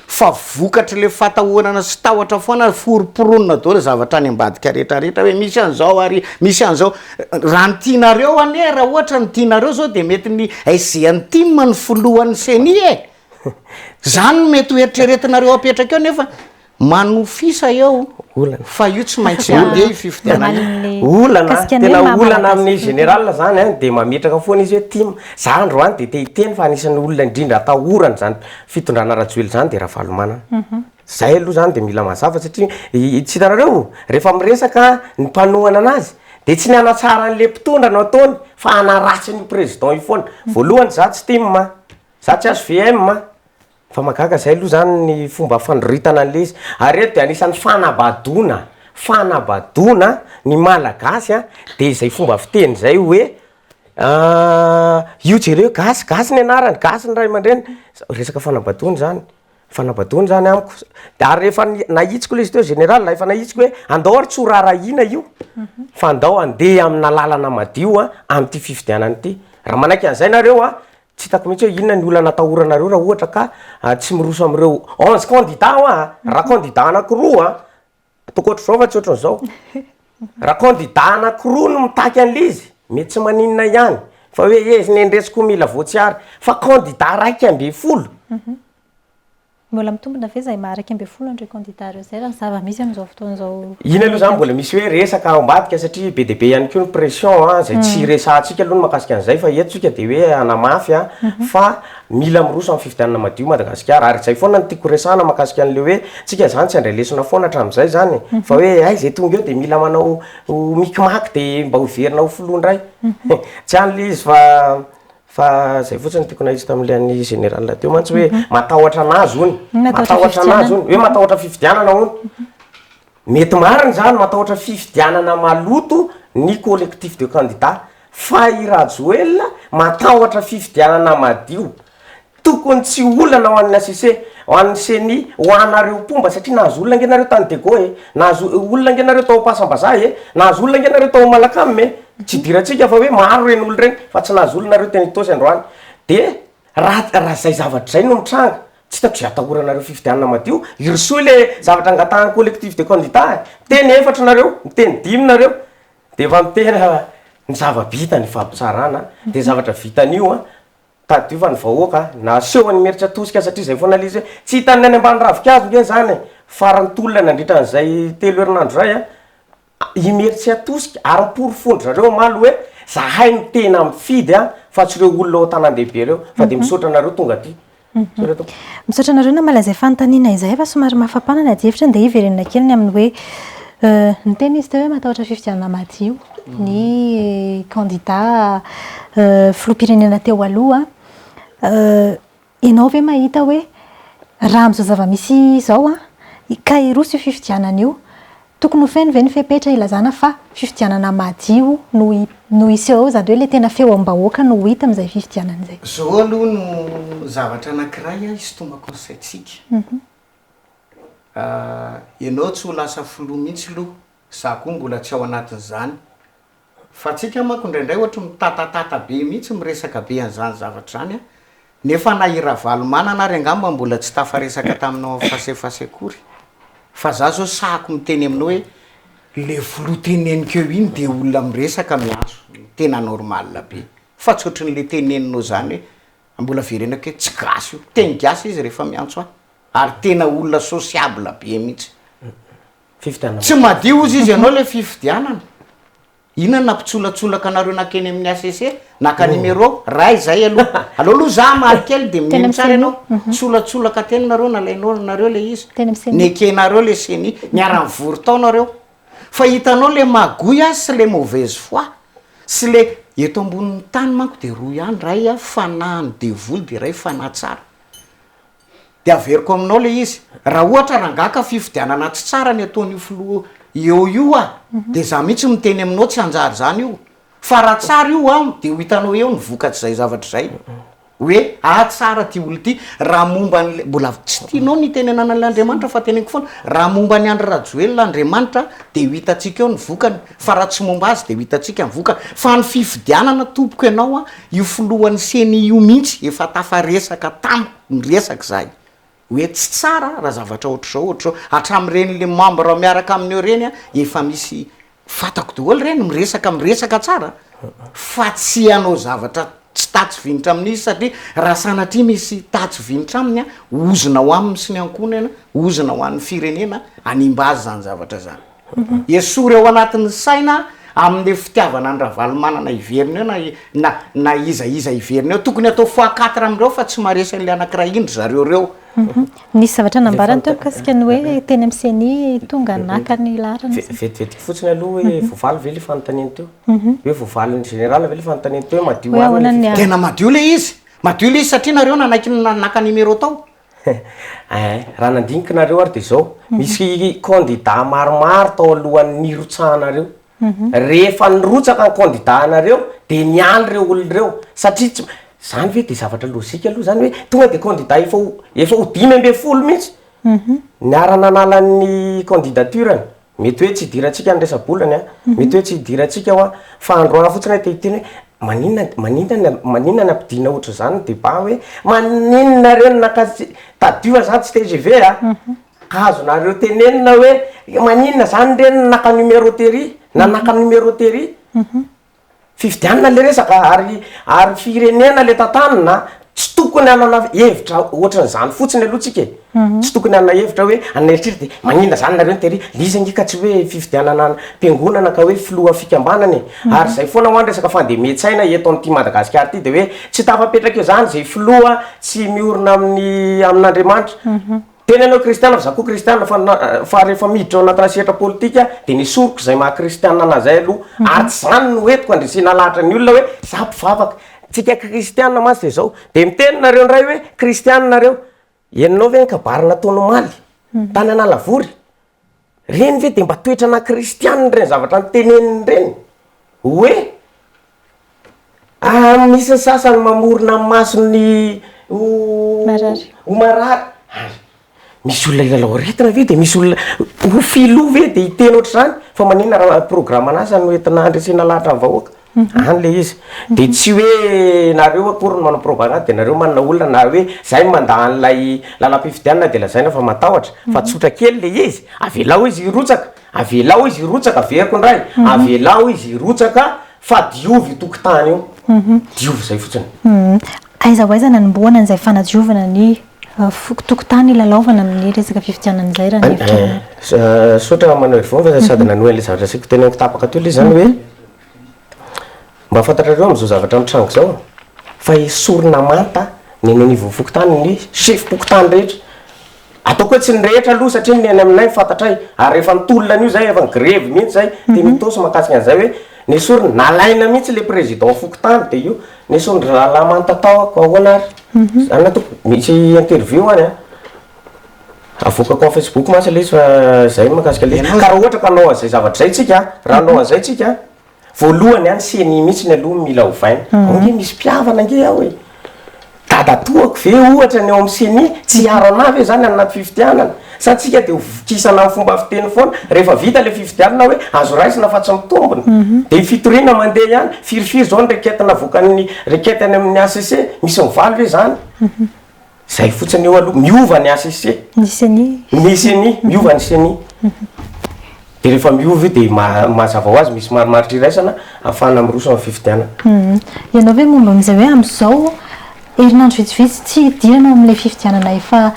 fa vokatr'ilay fatahorana sy tahotra foana ary forom-poronina daholo zavatra any ambadika rehetra rehetra hoe misy an'izao ary misy an'izao raha ny tianareo anie raha ohatra ny tianareo zao dia mety ny SGNTIM no filohan'ny ceni e! zany no mety ho eritreretinareo apetraka eo nefa manofisa eo olana fa io tsy maintsy andeha io fifidianana io Manome olana mikasika ny hoe tena maha olana malagasy amin'ny ny général zany an dia mametraka foana izy hoe tim za androany dia te hiteny fa anisan'ny olona indrindra atahorana izany Fitondrana Rajoelina izany dia Ravalomanana. Izay aloha izany dia mila mazava satria tsy hitanareo rehefa miresaka ny mpanohana anazy dia tsy ny hanatsara an'ilay mpitondra no ataony fa hanaratsy an'io président io foana. Voalohany izaho tsy tim a, izaho tsy hvm a, fa mahagaga izay aloha izany ny fomba fandroritana an'ilay izy. Ary eto dia anisan'ny fanabadoana, fanabadoana ny Malagasy dia izay fomba fiteny izay hoe. Ah io jereo gasy, gasy ny anarany, gasy ny ray aman-dreny, resaka fanambatoana izany, fanambatoana izany amiko, ary efa nahitsiko ilay izy teo général a, efa nahitsiko hoe andao ary tsy ho raharahiana io fa andao handeha amina lalana madio a, amin'ity fifidianana ity, raha manaiky an'izay nareo a, tsy hitako mihintsy hoe inona ny olana atahoranareo raha ohatra ka tsy miroso amin'ireo onze candidats hoa, raha candidat anakiroa. Ankoatra izao fa tsy ohatran'izao. Raha kandida anankiroa no mitaky an'ilay izy, mety tsy maninona ihany, fa hoe hezina eny retsy koa mila voatsiary. Fa kandida iraika ambin'ny folo? Mbola mitombina ve izay maha iraika ambin'ny folo an'ireo kandida ireo izay raha ny zava-misy amin'izao fotoana izao? Iny aloha izany mbola misy hoe resaka ao ambadika satria be dia be ihany koa ny pression izay tsy resahantsika aloha ny mahakasika an'izay fa eto isika dia hoe hanamafy fa. Mila miroso amin'ny fifidianana madio Madagasikara. Ary izay foana no tiako horesahana mahakasika an'ilay hoe tsika izany tsy handray lesona foana hatramin'izay izany e. Fa hoe hay izay tonga eo dia mila manao ho mikimaky dia mba hoverina ho filoha indray. Tsy any ilay izy fa fa izay fotsiny no tiako nahitsy tamin'ilay an'ny général teo mantsy hoe matahotra an'azy hono. Matahotra an'azy hono. Hoe matahotra fifidianana hono. Mety marina izany, matahotra fifidianana maloto ny collectif de candidats, fa i Rajoelina matahotra fifidianana madio. Tokony tsy olana ho an'ny HCC, ho an'ny ceni, ho anareo mpomba satria nahazo olona ange nareo tany Dego e, nahazo olona ange nareo tao Ampahasambazaha e, nahazo olona ange nareo tao Malacam e, tsy idirantsika fa hoe maro ireny olona ireny fa tsy nahazo olona nareo teny Itaosy androany. Dia raha raha izay zavatra izay no mitranga, Tsy hitako izay atahoranareo fifidianana madio, hirosoa ilay zavatra angatahan'ny collectif des candidats e! Miteny efatra nareo, miteny dimy nareo, dia efa miteny ny zava-bita ny fampitsarana, dia ny zavatra vitan'io an, tadidio fa ny vahoaka nasehony nimeritra tosika satria izay foana ilay izy hoe tsy hitan'ny any ambany ravinkazo nge izany e! Faran'ny tolona nandritra an'izay telo herinandro izay an, Imeritsiatosika, ary miporofon-dry zareo omaly hoe zahay no tena mifidy an, fa tsy ireo olona ao an-tanàn-dehibe ireo, fa dia misaotra anareo tonga aty. Tsorina tompoko. Misaotra anareo namaly izay fanontaniana izay fa somary mafapana ny adihevitra dia hiverenana kely ny amin'ny hoe niteny izy teo hoe matahotra fifidianana madio ny kandida filoham-pirenena teo aloha. Ianao ve mahita hoe raha amin'izao zava-misy izao an, ka hiroso io fifidianana io, tokony ho feno ve ny fepetra hilazana fa fifidianana madio no no hiseho eo, izany hoe ilay tena feom-bahoaka no ho hita amin'izay fifidianana izay? Izao aloha no zavatra anankiray hisintomako ny saintsika. Ianao tsy ho lasa filoha mihitsy aloha, izaho koa mbola tsy ao anatin'izany, Fa antsika manko indraindray ohatry mitatatata be mihitsy, miresaka be an'izany zavatra izany an! Nefa na i Ravalomanana ary angamba mbola tsy tafaresaka taminao en face à face akory. Fa za zao sahako miteny aminao hoe le filoha teneniko eo iny dia olona miresaka miaso, tena normal be. Fa tsy ohatry ny le teneninao izany hoe, mbola verenako hoe tsy gasy io. Teny gasy izy rehefa miantso ahy. Ary tena olona sociable be mihitsy. Tsy madio ozy izy ianao le fifidianana. Inona nampitsolatsolaka anareo nakeny amin'ny HCC? Naka numéro ray zay aloha. Aleo aloha zah hamaly kely de mino tsara ianao. Tsolatsolaka teny nareo nalainao nareo le izy. Nekenareo le ceni. Niara nivory tao nareo. Fa hitanao le magouille azy sy le mauvaise foi. Sy le eto ambonin'ny tany manko de roa ihany ray fanahin'ny devoly de ray fanahy tsara. de averiko aminao le izy raha ohatra rangah ka fifidianana tsy tsara ny ataon'io filoha eo io ah de za mihitsy miteny aminao tsy hanjary zany io fa raha tsara io an de ho hitanao eo ny vokatr'izay zavatra zay hoe ah tsara ty olo ty raha momba an'le mbola tsy tianao ny hitenenana an'le andriamanitra fa teneniko foana raha momba an'i andry rajoelina andriamanitra de ho hitantsika eo ny vokany Fa raha tsy momba azy dia ho hitantsika ny vokany. Fa ny fifidianana tompoko ianao a, io filohan'ny ceni io mihitsy efa tafaresaka tamiko niresaka izahay hoe tsy tsara raha zavatra ohatr'izao ohatr'izao, hatramin'ireny le membre miaraka aminy eo ireny a, efa misy fantako daholo ireny miresaka miresaka tsara fa tsy hanao zavatra tsy tatsy vinitra amin'izy satria raha sanatria misy tatsy vinitra aminy a, ozona ho aminy sy ny ankohonany, ozona ho an'ny firenena, hanimba azy izany zavatra izany. Esory ao anatin'ny saina amin'io fitiavana an'i Ravalomanana hiverina io na na na iza iza hiverina eo. Tokony atao fois quatre amin'ireo fa tsy maharesy an'ilay anankiray indry zareo ireo. Nisy zavatra nambarany teo mikasika ny hoe teny amin'ny ceni tonga naka ny laharana izy. Vetivetiko fotsiny aloha hoe voavaly ve ilay fanontaniany teo? Hoe voavalin'ny général ve ilay fanontaniany teo hoe madio marina ilay fitondran-tena? Tena madio ilay izy. Madio ilay izy satria nareo nanaiky ny nanaka numéro tao. Eeh, raha nandinika nareo ary dia zao, misy candidats maromaro tao alohan'ny nirotsahanareo, rehefa nirotsaka ny candidats anareo dia nialy ireo olona ireo satria tsy, zany ve dia zavatra logique aloha zany hoe tonga dia candidats efa ho, efa ho dimy ambin'ny folo mihintsy, niara-nanala ny candidature-ny. Mety hoe tsy hidirantsika ny resa-bolany an, mety hoe tsy hidirantsika hoa, fa andro any fotsiny aho te hiteny hoe maninona, maninona, maninona ny hampidina ohatr'izany ny débat hoe maninona re no nankasitr, tadidio zah tsy tgv a, ka azonareo tenenina hoe maninona zany re no naka numéro tery na naka numéro tery. Fifidianana le resaka ary ary firenena le tantanina, tsy tokony hanana hevitra ohatran'izany fotsiny aloha tsika e, tsy tokony hanana hevitra hoe anona eritreritra de maninona zany nareo nitery, le izy ange ka tsy hoe fifidianana am-piangonana ka hoe filoha fikambanana e, ary zay foana hoa ny resaka fandemen-tsaina eto amin'ity Madagasikara ity de hoe tsy tafapetraka eo zany ze filoha tsy miorina amin'ny amin'Andriamanitra. Tena ianao kristiana fa za koa kristiana fa na fa rehefa miditra ao anatina sehatra politika de ny esoriko zay maha kristiana anahy zay aloha ary tsy zany no entiko andresena lahatra ny olona hoe za mpivavaka tsika kristiana mantsy de zao de miteny nareo ndray hoe kristiana nareo enonao ve ny kabary nataony omaly tany analavory Ireny ve dia mba toetra ana kristianina ireny zavatra noteneniny ireny? Hoe misy ny sasany mamorona ny masony ho ho marary, hay misy olona hilalao aretina ve dia misy olona ho filoha ve dia hiteny ohatr'izany? Fa maninona raha programme an'asa no entina handresena lahatra ny vahoaka? Any le izy. De tsy hoe nareo akory no manao propagande de nareo manana olona na hoe zay no mandà an'ilay lalam-pifidianana de lazaina fa matahotra fa tsotra kely le izy, avelao izy hirotsaka, avelao izy hirotsaka, averiko indray, avelao izy hirotsaka fa diovy io tokotany io, diovy izay fotsiny. Aiza ho aiza no anombohana an'izay fanadiovana ny tokotany hilalaovana amin'ny resaka fifidianana izay raha ny hevitranao? Misaotra Manoel Vava sady nanohy an'ilay zavatra asiako teneniko tapaka teo le izy zany hoe. Mba fantatrareo amin'izao zavatra mitranga izao fa esorina manta ny eny anivon'ny fokontany ny sefom-pokontany rehetra. Ataoko hoe tsy ny rehetra aloha satria ny eny aminay ny fantatray ary efa nitolona an'io izay, efa ni-grevy mihitsy izay teny Itaosy mahakasika an'izay hoe nesorina, nalaina mihitsy ilay président fokontany dia io nesorin-dry rahalahy manta tao, koa ahoana ary? Zany raha toa ka misy interview any an! Avoakako amin'ny facebook mantsy ilay izy fa izay ny mahakasika ilay izy. Ka raha ohatra ka hanao an'izay zavatra izay tsika, raha hanao an'izay tsika, voalohany a ny ceni mihitsy aloha no mila ovaina. Moa ange misy mpihavana ange ao e! Dadatoako ve ohatra ny ao amin'ny ceni? Tsy hiaro anah ve izany any anaty fifidianana? Sa tsika dia hovokisana amin'ny fomba fiteny foana? Rehefa vita ilay fifidianana hoe azo raisina fa tsy mitombina. Dia fitoriana mandeha ihany. Firy firy izao ny requête navoakan'ny requête any amin'ny HCC? Misy mivaly ve izany? Zay fotsiny eo aloha, miova ny HCC. Ny ceni. Ny ceni, miova ny ceni. Dia rehefa miova io dia maha- mahazava ho azy, misy marimaritra iraisana ahafahana miroso amin'ny fifidianana. Ianao ve momba amin'izay hoe amin'izao herinandro vitsivitsy tsy hidirana ao amin'ilay fifidianana efa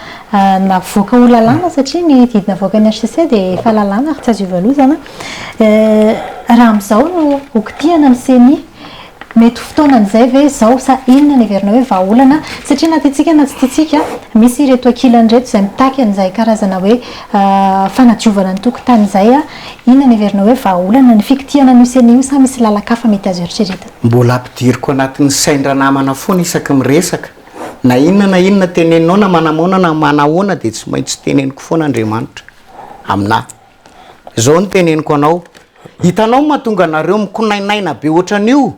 navoaka ho lalàna satria ny didy navoakan'ny HCC dia efa lalàna ary tsy azo ivalozana. Raha amin'izao no hokitihana ny ceni. Mety ho fotoanan'izay ve izao sa inona no heverinao hoe vahaolana? Satria na tiantsika na tsy tiantsika, misy ireto ankilany ireto izay mitaky an'izay karazana hoe fanadiovana ny tokotany izay. Inona no heverinao hoe vahaolana? Ny fikitihana an'io sena io sa misy lalan-kafa mety azo eritreretina? Mbola ampidiriko anatin'ny sain-dranamana foana isaky miresaka. Na inona na inona tenenao na manamoana na manahoana dia tsy maintsy teneniko foana Andriamanitra aminahy. Zao no teneniko anao, hitanao ny mahatonga anareo mikonainaina be ohatran'io,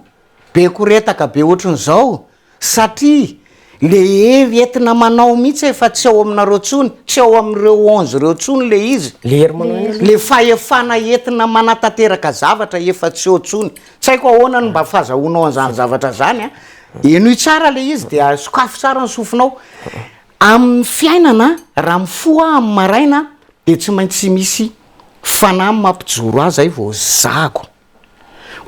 be koretaka be ohatran'izao, satria le hery entina manao mihitsy efa tsy ao aminareo tsony, tsy ao amin'ireo onze reo tsony le izy, Le hery manao inona? le fahefana entina manatanteraka zavatra efa tsy eo tsony, tsy haiko ahoana no mba fazahoanao an'izany zavatra zany an, henoy tsara le izy dia sokafy tsara ny sofinao, Amin'ny fiainana, raha mifoha aho amin'ny maraina dia tsy maintsy misy fanahy mampijoro ahy izay vao zahako.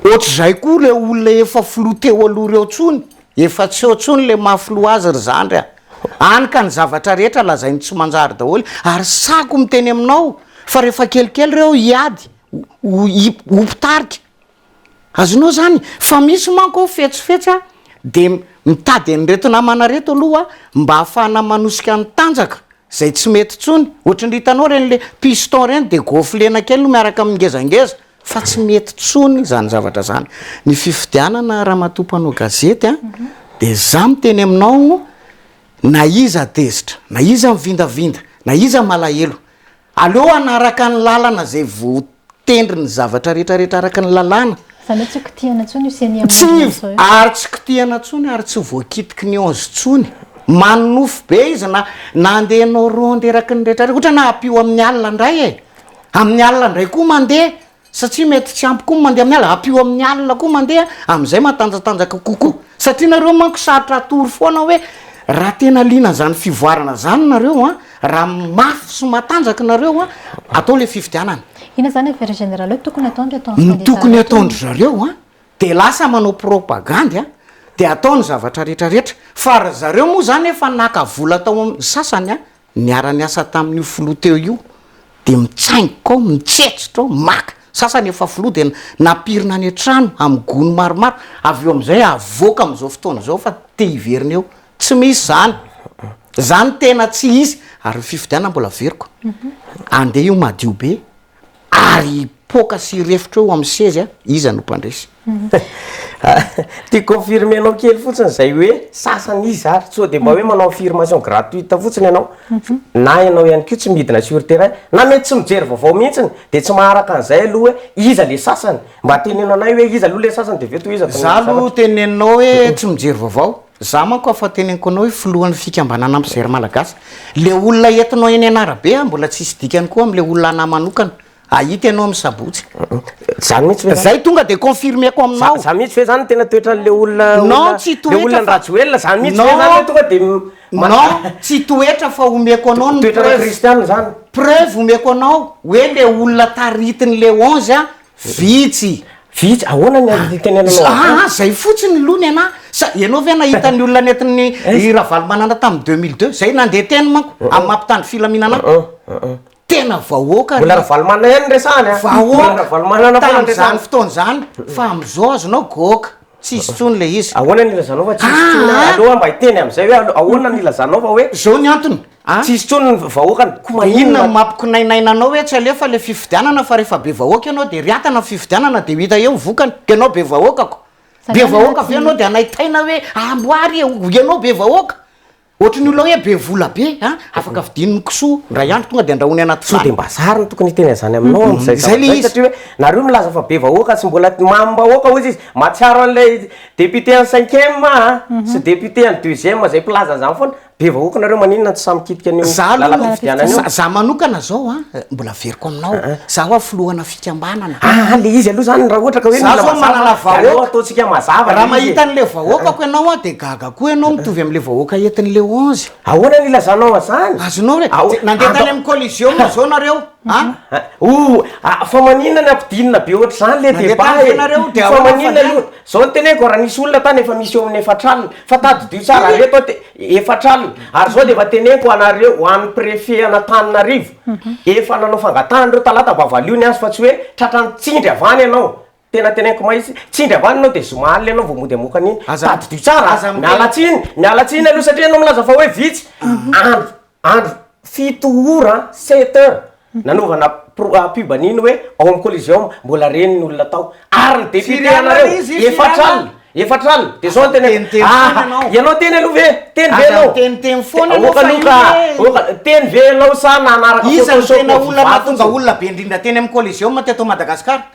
Ohatr'izay koa ireo olona efa filoha teo aloha ireo intsony, efa tsy eo intsony ilay maha filoha azy ry zandry a! Hany ka ny zavatra rehetra lazainy tsy manjary daholo ary sahako miteny aminao fa rehefa kelikely ireo hiady ho mpitarika. Azonao zany fa misy manko ao fetsifetsy a de mitady an'ireto namana reto aloha mba ahafahana manosika ny tanjaka zay tsy mety tsony ohatry ny hitanao reny le piston reny de goflena kely no miaraka amin'ny ngezangeza fa tsy mety tsony zany zavatra zany ny fifidianana ramatoa mpanao gazety a de za miteny aminao na iza tezitra na iza mivindavinda na iza malahelo Aleo hanaraka ny lalana izay voatendry ny zavatra rehetra rehetra araka ny lalàna. Izany hoe tsy ho kitihana intsony io ceni amin' Andriana izao io. Ary tsy kitihana intsony ary tsy voakitiky ny ons intsony. Manonofy be izy na na handeha hanao ronde eraky ny rehetra rehetra. Ohatra naha-ampio amin'ny alina indray e! Amin'ny alina indray koa mandeha. Satria mety tsy ampy koa ny mandeha amin'ny alina, ampio amin'ny alina koa mandeha, amin'izay matanjatanjaka kokoa. Satria nareo manko sarotra atoro foana hoe raha tena liana an'izany fivoarana izany nareo an, raha mafy sy matanjaka nareo an, atao ilay fifidianana. Inona izany affaire générale hoe tokony atao ny ataon'ny kandida rehetra? Ny tokony ataon-dry zareo an, dia lasa manao propagandy an, dia atao ny zavatra rehetra rehetra. Fa ry zareo moa izany efa naka vola tao amin'ny sasany an, Niara-niasa tamin'io filoha teo io dia mitsaingoka ao, mitsetsitra ao, maka. Sasany efa filoha dia nampirina any an-trano amin'ny gony maromaro, avy eo amin'izay avoaka amin'izao fotoana izao fa te hiverina eo. Tsy misy izany. Izany tena tsy izy. Ary ny fifidianana mbola averiko. Andeha io madio be. ary hipoaka sy hirefotra eo amin'ny sezy a, iza no mpandresy? Tiako confirmer-nao kely fotsiny izay hoe sasany iza ary, sao dia mba hoe manao affirmation gratuite fotsiny ianao, na ianao ihany koa tsy midina sur terrain, na mety tsy mijery vaovao mihitsiny, dia tsy maharaka an'izay aloha hoe iza ilay sasany? Mba teneno anay hoe iza aloha ilay sasany dia avy eo tohizo ato amin'ny zavatra. Izaho aloha teneninao hoe tsy mijery vaovao. Za manko afa teny ankoanao io filohan'ny fikambanana mpijery malagasy. Le olona entinao eny an'arabe an mbola tsisy dikany koa amle olona anah manokana. Ahita ianao am sabotsy. Zany mihitsy ve zany? Zay tonga de confirmeko aminao. Zany mihitsy ve zany tena toetranle olona olona Non tsy toetra fa Le olona andrajoelina zany mihitsy ve zany le tonga de Non tsy toetra fa omeko anao ny preuve Toetrana kristianina zany? Preuve omeko anao oe le olona taritinle onze an Vitsy. Vitsy, ahoana ny azo itenenanao an'izany? Aa izay fotsiny ny lony ana, sa ianao ve nahita ny olona nentin'ny i Ravalomanana tamin'ny deux mille deux? Izay nandeha teny manko amin'ny maha mpitandro filaminana ahy. Tena vahoaka ry. Mbola Ravalomanana ihany no resahana a. Vahoaka tamin'izany fotoana izany fa amin'izao azonao goaka, tsisy intsony ilay izy. Ahoana no ilazanao fa tsisy intsony? Aleo aho mba hiteny amin'izay hoe ahoana no ilazanao fa hoe. Izao ny antony, A. Tsy hisy intsony ny vahoakany ko maninona. Dia inona no mampikonainaina anao hoe tsy alefa ilay fifidianana fa rehefa be vahoaka ianao dia riatana ny fifidianana dia ho hita eo ny vokany. Ianao be vahoaka ko. Be vahoaka ve ianao dia hanaitaina hoe amboary e, ianao be vahoaka. Ohatry ny olona hoe be vola be a, afaka vidiany ny kisoa indray andro tonga dia andrahoany anaty vilany. Sao dia mba zary no tokony hiteny an'izany aminao amin'izay zavatra izay satria hoe nareo milaza fa be vahoaka tsy mbola mamim-bahoaka hozy izy. Mahatsiaro an'ilay député an'ny cinquième a sy député an'ny deuxième izay mpilaza an'izany foana. Be vahoaka nareo maninona tsy sahy mikitika an'io lalam-pifidianana io? Za, za manokana zao an, mbola averiko aminao, ah, ah. za hoa filohana fikambanana. Ah, ah, le izy aloha zany raha ohatra ka hoe mila mazava, aleo ataontsika mazava. Raha mahita an'le vahoakako ianao an, de gaga koa ianao mitovy amin'le vahoaka entin'le onze. Ahoana ny ilazanao an'zany? Azonao re, nandeha tany amin'ny collision zao nareo. Ah? Ah, oh, ah, fa maninona ny ampidinina be ohatr'izany le débat e? Fa maninona io? Zao ny teneniko, raha nisy olona tany efa misy eo amin'ny efatra alina, fa tadidio tsara, ary eto aho, efatra alina, ary zao dia efa teneniko ho anareo, ho an'ny préfet an'Antananarivo, efa nanao fangatahana ireo talata mba valio ny azy fa tsy hoe tratran'ny tsindry avy any ianao, tena teneniko mahitsy, tsindry avy any ianao dia zoma alina ianao vao mody hamoaka an'iny, tadidio tsara, miala tsiny, miala tsiny aloha satria ianao milaza fa hoe vitsy, andro. andro fito ora, sept heures, nanaovana pro- ah, pub an'iny hoe ao amin'ny Coliseum, mbola reny ny olona tao. Ary ny député Firy alina anareo, izy? Firy efatra alina? alina, efatra alina. Dia zao ny tena, Miteniteny foana ah, ianao. ianao teny aloha ve? Teny ve Aza ianao? miteniteny foana Te- ianao oka fa io loka, hoe- oka, teny ve ianao sa nanaraka Iza no photoshop tena ny olona vato mahatonga fotsiny? olona be indrindra teny amin'ny Coliseum teto Madagasikara?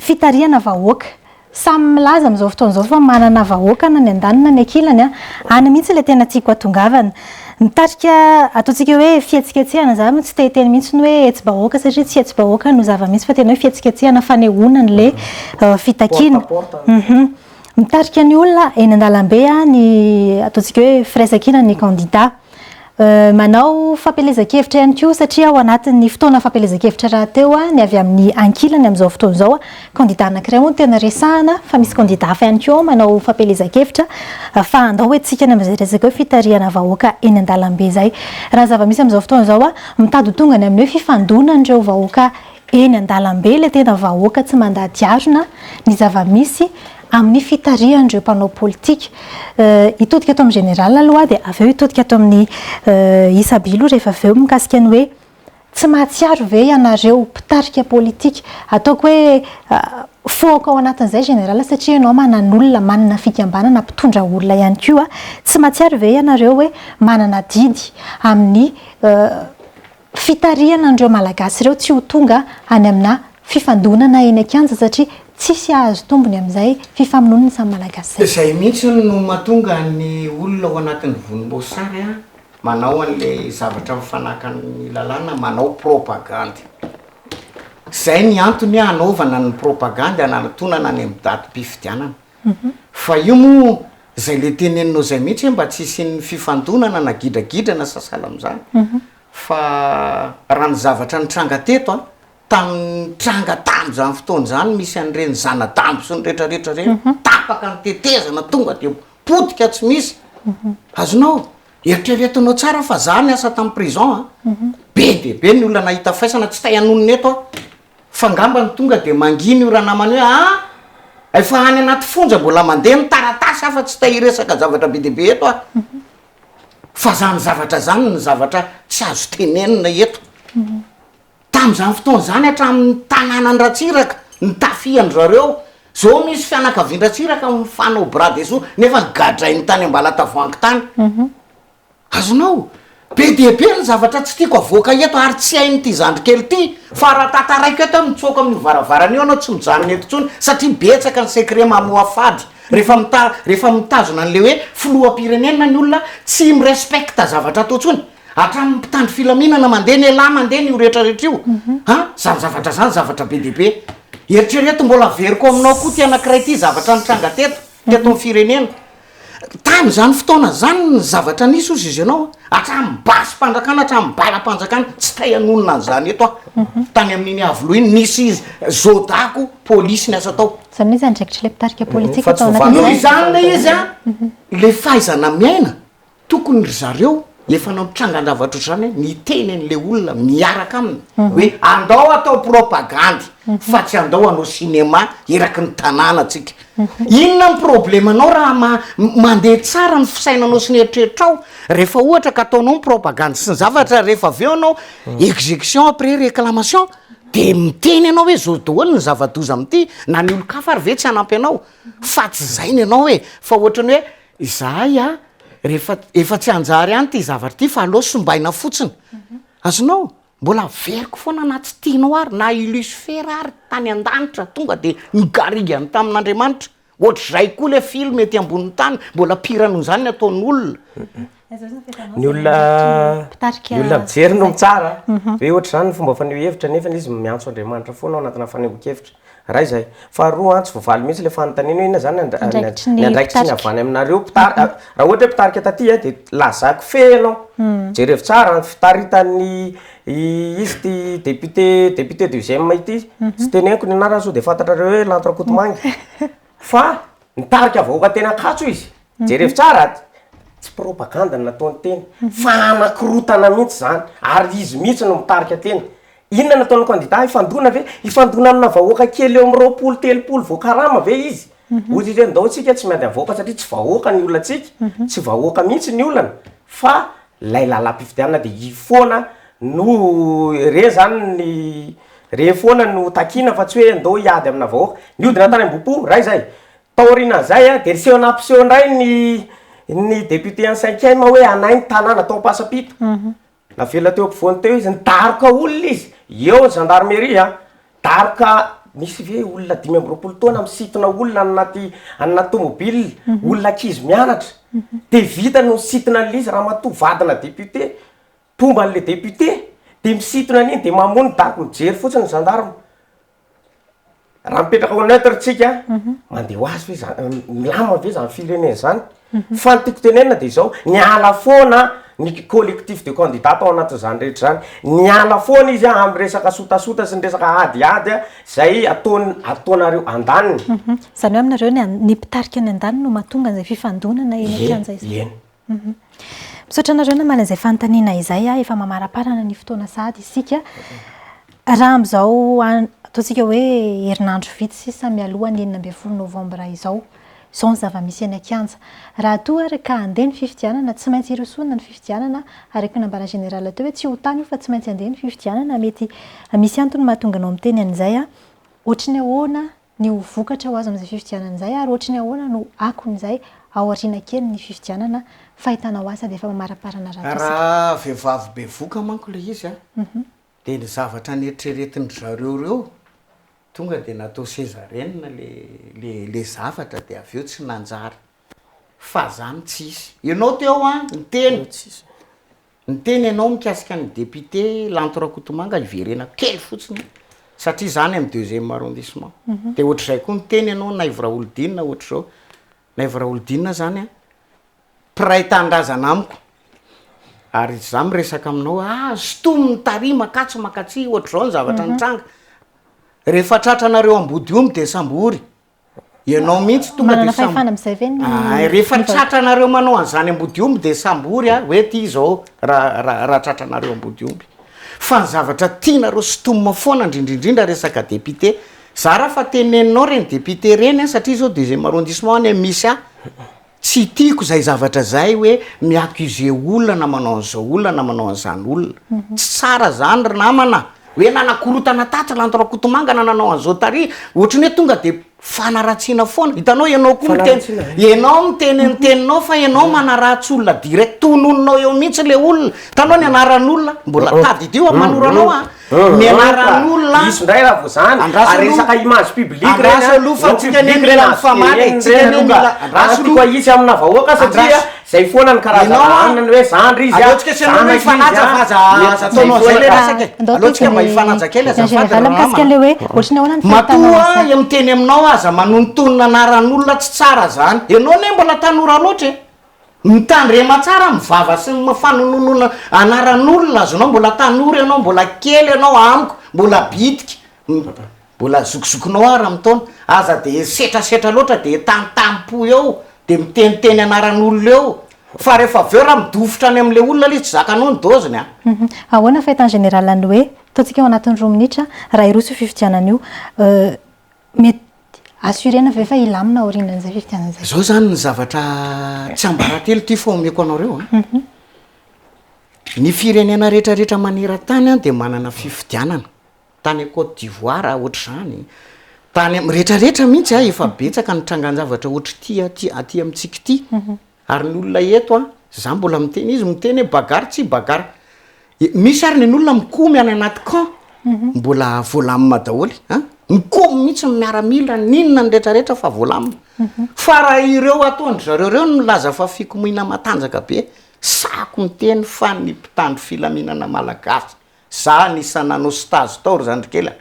fitarihana vahoaka. Samy milaza amin'izao fotoana izao fa manana vahoaka na ny andaniny na ny ankilany. Any mihitsy ilay tena tiako hatongavana. Ny tarika ataontsika hoe fihetsiketsehana izany no tsy te-hiteny mihitsy ny hoe hetsi-bahoaka satria tsy hetsi-bahoaka no zava-misy fa tena hoe fihetsiketsehana, fanehoana an'ilay fitakiana. Mitarika ny olona eny an-dalambe ny ataontsika hoe firaisankina ny kandida. Manao fampielezan-kevitra ihany koa satria ao anatin'ny fotoana fampielezan-kevitra rahateo ny avy amin'ny ankilany amin'izao fotoana izao. Kandidà anankiray hono tena resahana fa misy kandidà hafa ihany koa manao fampielezan-kevitra fa andao hoentintsika ny amin'izay resaka hoe fitarihana vahoaka eny an-dalambe izay. Raha ny zava-misy amin'izao fotoana izao, mitady ho tonga any amin'ny hoe fifandonan'ireo vahoaka eny an-dalambe ilay tena vahoaka tsy mandady harona ny zava-misy amin'ny fitarihan'ireo mpanao politika. Hitodika ato amin'ny général aloha aho dia avy eo hitodika ato amin'ny Isabilo rehefa avy eo mikasika ny hoe tsy mahatsiaro ve ianareo mpitarika politika, ataoko hoe fohako ao anatin'izay général satria ianao manan'olona, manana fikambanana, mpitondra olona ihany koa, tsy mahatsiaro ve ianareo hoe manana adidy amin'ny fitarihana an'ireo Malagasy ireo tsy ho tonga any amina fifandonana eny an-kianja satria tsisy hahazo tombony amin'izay fifamonoana ny samy Malagasy izay. Izay mihitsy no mahatonga ny olona ao anatin'ny vonimboasary manao an'ilay zavatra mifanaka amin'ny lalàna manao propagandy. Izay ny antony hanaovana ny propagandy hanaratonana any amin'ny datim-pifidianana. Fa io moa zay le teneninao zay mihitsy hoe mba tsy hisian'ny fifandonana na gidragidrana sasala amzany fa raha ny zavatra nitranga teto a, tamin'ny nitranga tamzany fotoana zany misy an'ireny zana-dambo sy ny retraretra reny tapaka ny tetezana tonga de potika tsy misy azonao eritreretinao tsara fa za niasa tam prison a be dia be ny olona nahita faisana tsy tay hanonona eto aho fa ngamba ny tonga dia mangina io ranamana io ah! efa any anaty fonja mbola mandeha ny taratasy afa tsy te hiresaka zavatra be dia be eto aho fa zany zavatra zany ny zavatra tsy azo tenenina eto tamin'izany fotoana izany hatramin'ny tanànan-dRatsiraka ny tafian-dry zareo zao misy fianakavian-dRatsiraka mifanao bras dessous nefa gadrainy tany Ambalatavoahangy tany Azonao? Be dia be ny zavatra tsy tiako avoaka eto ary tsy hain'ity zandry kely ity fa raha tantaraiko eto aho mitsoaka amin'io varavarana io ianao tsy mijanona eto intsony satria betsaka ny secret mamoha fady rehefa mita rehefa mitazona an'ilay hoe filoham-pirenena ny olona tsy mi-respecte zavatra atao intsony hatramin'ny mpitandro filaminana mandeha ny elah mandeha ny io rehetra rehetra io an izany zavatra izany zavatra be dia be eritrereto mbola averiko aminao koa ity anankiray ity zavatra nitranga teto teto amin'ny firenena Tamin'izany fotoana izany, ny zavatra nisy, hozy i Zenao, hatramin'ny basim-panjakana, hatramin'ny balam-panjakana, tsy tay hanonona an'izany eto aho. Tany amin'iny Iavoloha iny, nisy zodako, polisy niasa tao. Izany hoe izay andraikitr'ilay mpitarika politika tao anatin'izay. Noho izany ilay izy an, ilay fahaizana miaina. Tokony ry zareo efa nampitranga an-javatra ohatr'izany hoe miteny an'ilay olona miaraka aminy hoe andao atao propagandy fa tsy andao hanao cinéma eraky ny tanàna tsika. Inona ny problemanao raha ma- mandeha tsara ny fisainanao sy ny eritreritrao rehefa ohatra ka ataonao ny propagandy sy ny zavatra rehefa avy eo ianao execution après réclamation de miteny ianao hoe zao daholo ny zava-doza amin'ity na ny olon-kafa ary ve tsy hanampy anao fa tsy izay ny anao e! fa ohatrany hoe Izahay a, rehefa efa tsy hanjary any ity zavatra ity fa aleo simbaina fotsiny. Azonao? Mbola averiko foana na tsy tianao ary, na i Lucifer ary tany an-danitra tonga dia nigarigany tamin'Andriamanitra. Ohatr'izay koa ilay film ety ambonin'ny tany, mbola pire noho izany ny ataon'olona. ny olona ny olona mijery no mitsara hoe ohatra izany ny fomba faneho hevitra nefa izy miantso Andriamanitra foana ao anatina fanehoan-kevitra. Iray izay. Faharoa, tsy voavaly mihitsy ilay fanontaniana hoe inona izany ny andraikitry ny avy any aminareo mpitarika. Raha ohatra hoe mpitarika taty dia lazaiko feno ianao. Jerevo tsara ny fitaritan'ny izy ity député député deuxième ity. Tsy teneniko ny anarany sao dia fantatrareo hoe Lanto Rakotomanga. Fa nitarika vahoaka teny Ankatso izy. Jereo tsara aty, tsy propagande no nataony tena fa hanakorontana mihitsy zany ary izy mihitsy no mitarika tena, inona no ataon'ny kandida hifandona ve? Hifandona amina vahoaka kely eo amin'ny roapolo telopolo voakarama ve izy? Ohatra izy hoe ndao antsika tsy miady amin'ny vahoaka satria tsy vahoaka ny olantsika, tsy vahoaka mihitsy ny olana fa lay lalam-pifidianana de io foana no re zany ny re foana no takiana fa tsy hoe ndao hiady amina vahoaka, nihodina tany ambohipo ray zay, Taorian'izay dia niseho nampiseho indray ny ny député an'i Cinquième hoe hanahy ny tanàna tao Ampasampito. Navela teo ampovoany teo izy, nidaroka olona izy, eo ny gendarmerie an, daroka nisy ve olona dimy amby roapolo taona misintona olona any anaty any anaty tômôbila, olona ankizy mianatra. Dia vita no nisintona an'ilay izy ramatoa vadina député, mpomba an'ilay député, dia misintona an'iny dia mamono daroka, mijery fotsiny ny gendarme. Raha mipetraka au neutre tsika, mandeha ho azy ve zany, milamina ve zany firenena zany? Fa ny tiako tenenina dia izao, niala foana ny collectif de candidats tao anatin'izany rehetra izany, niala foana izy amin'ny resaka sotasota sy ny resaka adiady izay ataony, ataonareo andaniny. Izany hoe aminareo ny mpitarika any andaniny no mahatonga an'izay fifandonana eny an-kianja izay? Eny, eny. Misaotra anareo namaly an'izay fanontaniana izay. Efa mamaraparana ny fotoana sahady isika. Raha amin'izao ataontsika hoe herinandro vitsy sisa mialoha ny enina ambin'ny folo novambra izao, izao ny zava-misy eny an-kianja. Raha toa ary ka handeha ny fifidianana, tsy maintsy hirosoana ny fifidianana. Araka ny nambaran'ny Général teo hoe tsy ho tany io fa tsy maintsy handeha ny fifidianana. Mety misy antony mahatonga anao miteny an'izay. Hoatry ny ahoana ny ho vokatra ho azo amin'izay fifidianana izay ary ohatry ny ahoana no akon'izay aoriana kely ny fifidianana fa hitanao asa dia efa mamaraparana ratsy isika. Raha vehivavy bevoka manko ilay izy dia ny zavatra neritreretin-dry zareo ireo tonga dia natao sezarienne ilay zavatra dia avy eo tsy nanjary fa izany tsy hisy. Ianao teo an, niteny. Niteny ianao mikasika ny député Lanto Rakotomanga hiverenako kely fotsiny satria izaho any amin'ny deuxième arrondissement. Dia ohatr'izay koa niteny ianao Naivo Raholidinina ohatr'izao. Naivo Raholidinina izany mpiray tanindrazana amiko ary izaho miresaka aminao hoe ah sintominy tary makatsy makatsy ohatr'izao ny zavatra nitranga. Rehefa tratranareo ambodiomby dia sambory. Ianao mihitsy tonga de Manana sam- fahefana amin'izay ve ny Ay, rehefa ny tratranareo manao an'izany ambodiomby dia sambory a, hoe ty izao raha raha raha tratranareo ambodiomby. Fa ny zavatra tianareo sintomina foana indrindrindrindra resaka député. Zara fa teneninao ireny député ireny a, satria izao deuxième arrondissement anie misy ahy. Tsy tiako zay zavatra zay hoe mi accuse olona na manao an'zao olona na manao an'zany olona. Tsy tsara zany ry namana a! Hoe nanakorotana tatsy Lanto Rakotomanga na nanao an'zao tary, ohatry ny hoe tonga de fanaratsiana foana. Hitanao ianao koa miteny, ianao miteny ny teninao fa ianao manaratsy olona direct, tononinao eo mihitsy le olona. Hitanao ny anaran'olona? Mbola tadidio amin'ny manoro anao a! Ny anaran'olona an, andraso aloha, andraso aloha fa tsika anie mila mifamaly e, tsika anie mila, andraso aloha, andraso, ianao, aleo tsika sy ianao hifanaja fa aza aza ataonao an'izay le resaka e, aleo tsika mba hifanaja kely azafady ry ramama a, matoa aho miteny aminao aza manonontonona anaran'olona tsy tsara zany, ianao anie mbola tanora loatra e. Mitandrema tsara amin'ny vava sy ny fanononona anaran'olona azonao, mbola tanora ianao, mbola kely ianao amiko, mbola bitika, mbola zokizokinao ara-mitaona, aza dia setrasetra loatra dia tantam-po eo, dia miteniteny anaran'olona eo, fa rehefa avy eo raha midofotra any amin'ilay olona ilay izy tsy zakanao ny doziny an! Ahoana ny fahitany général an'ilay hoe, ataontsika ao anatin'ny roa minitra, raha hiroso io fifidianana io, mety. Dia assurena ve fa hilamina aorianan'izay fifidianana izay? Izao izany ny zavatra tsy ambaratelo ity fa omeko anareo an. Ny firenena rehetrarehetra maneran-tany an dia manana fifidianana. Tany Côte d'Ivoire ohatr'izany, tany am, rehetrarehetra mihitsy an, efa betsaka ny trangan-javatra ohatr'ity aty aty amintsika ity. Ary ny olona eto an, za mbola miteny, izy miteny hoe bagarre tsy bagarre, misy ary nen'olona mikomy any anaty camp mbola voalamina daholo an, mikomy mihitsy ny miaramila n'inona ny rehetra rehetra fa voalamina, fa raha ireo ataondry zareo ireo no milaza fa fikomiana matanjaka be, sahiko miteny fa ny mpitandro filaminana malagasy Za anisan'ny nanao stage tao ry zandrikely a!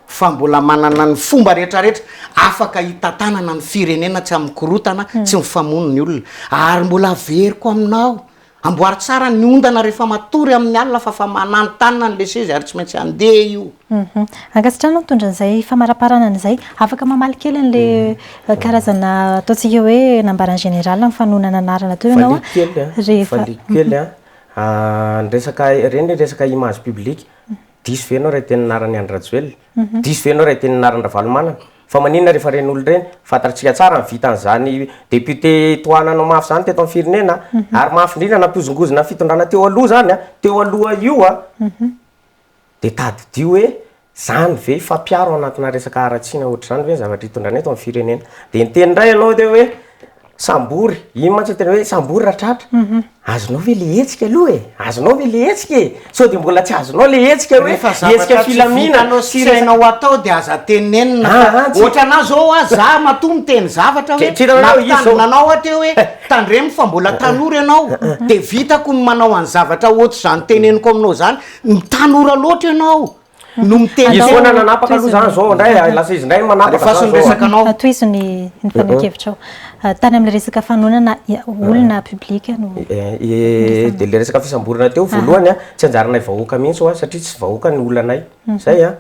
fa mbola manana ny fomba rehetra rehetra afaka hitantanana ny firenena tsy amin'ny korotana, tsy mifamono ny olona, ary mbola averiko aminao, amboary tsara ny ondana rehefa matory amin'ny alina fa fa mananontanona ny leseze ary tsy maintsy handeha io. Ankasitrahana ny mitondra an'izay famaraparanana izay. Afaka mamaly kely an'ilay karazana ataontsika hoe nambaran'ny général amin'ny fanonana anarana teo ianao a? Valiako kely a, valiako kely a. Ny resaka, ireny ny resaka image publique, diso ve ianao raha hiteny ny anaran'i Andry Rajoelina? Diso ve ianao raha hiteny ny anaran'i Ravalomanana? Fa maninona rehefa ireny olona ireny? Fantatsika tsara ny vitan'izany député tohananao mafy izany teto amin'ny firenena ary mafy indrindra nampihozongozona ny fitondrana teo aloha izany, teo aloha io an! Dia tadidio hoe izany ve, fa mpiaro ao anatina resaka haratsiana ohatr'izany ve ny zavatra itondrana eto amin'ny firenena? Dia niteny indray ianao teo hoe sambory, iny mantsy tena hoe sambory ratratra, azonao ve ilay hetsika aloha e, azonao ve ilay hetsika e, sao dia mbola tsy azonao ilay hetsika hoe hetsika filaminana sy resaka. Rehefa zavatra tsy vitanao sy tsy hainao atao dia aza tenenina fa ohatranà izao hoa za matoa miteny zavatra hoe nampitandrina anao aho teo hoe tandremo fa mbola tanora ianao dia vitako ny manao an'ny zavatra ohatr'izany teneniko aminao izany, Ny tanora loatra ianao no miteny Izy foana no nanapaka aloha izany izao indray lasa izy indray no manapaka izany Alefaso ny izao. resakanao. Tohizo ny ny fanehoan-kevitrao. Tany amin'ilay resaka fanonana olona public no Eh, dia ilay resaka fisamborana teo voalohany an, tsy anjaranay vahoaka mihitsy hoa satria tsy vahoaka ny olanay. Izay an.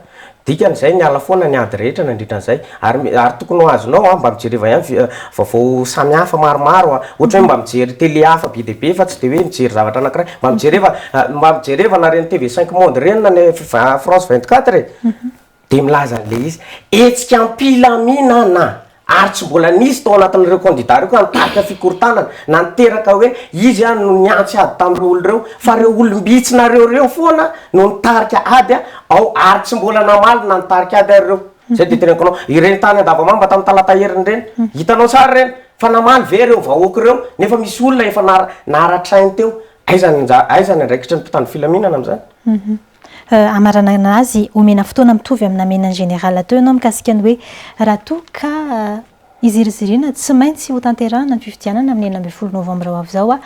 Dikan'izay, miala foana ny ady rehetra nandritra an'izay. Ary, ary tokony ho azonao an, mba mijereva ihany vi, vaovao samy hafa maromaro an. Ohatra hoe mba mijery télé hafa be dia be fa tsy dia hoe mijery zavatra anankiray. Mba mijereva, mba mijereva na ireny TV cinq monde ireny na ny France vingt quatre e. Dia milaza an'ilay izy, hetsika am-pilaminana. ary tsy mbola nisy tao anatin'ireo kandida ireo ka nitarika fikorontanana na niteraka hoe izy an no nihantsy ady tamin'ireo olona ireo fa ireo olom-bitsinareo ireo foana no nitarika ady an ao ary tsy mbola namaly na nitarika ady ary ireo izay dia teneniko anao ireny tany andavamamba tamin'ny talata heriny ireny hitanao tsara ireny fa namaly ve ireo vahoaka ireo nefa misy olona efa nara naratrainy teo aiza ny anjara aiza ny andraikitry ny mpitandro filaminana amin'izany hamaranana azy, omena fotoana mitovy amin'ny namena ny Général teo ianao mikasika ny hoe raha toa ka hiziriziriana tsy maintsy hotanterahina ny fifidianana amin'ny enina ambin'ny folo novambra ho avy izao aho.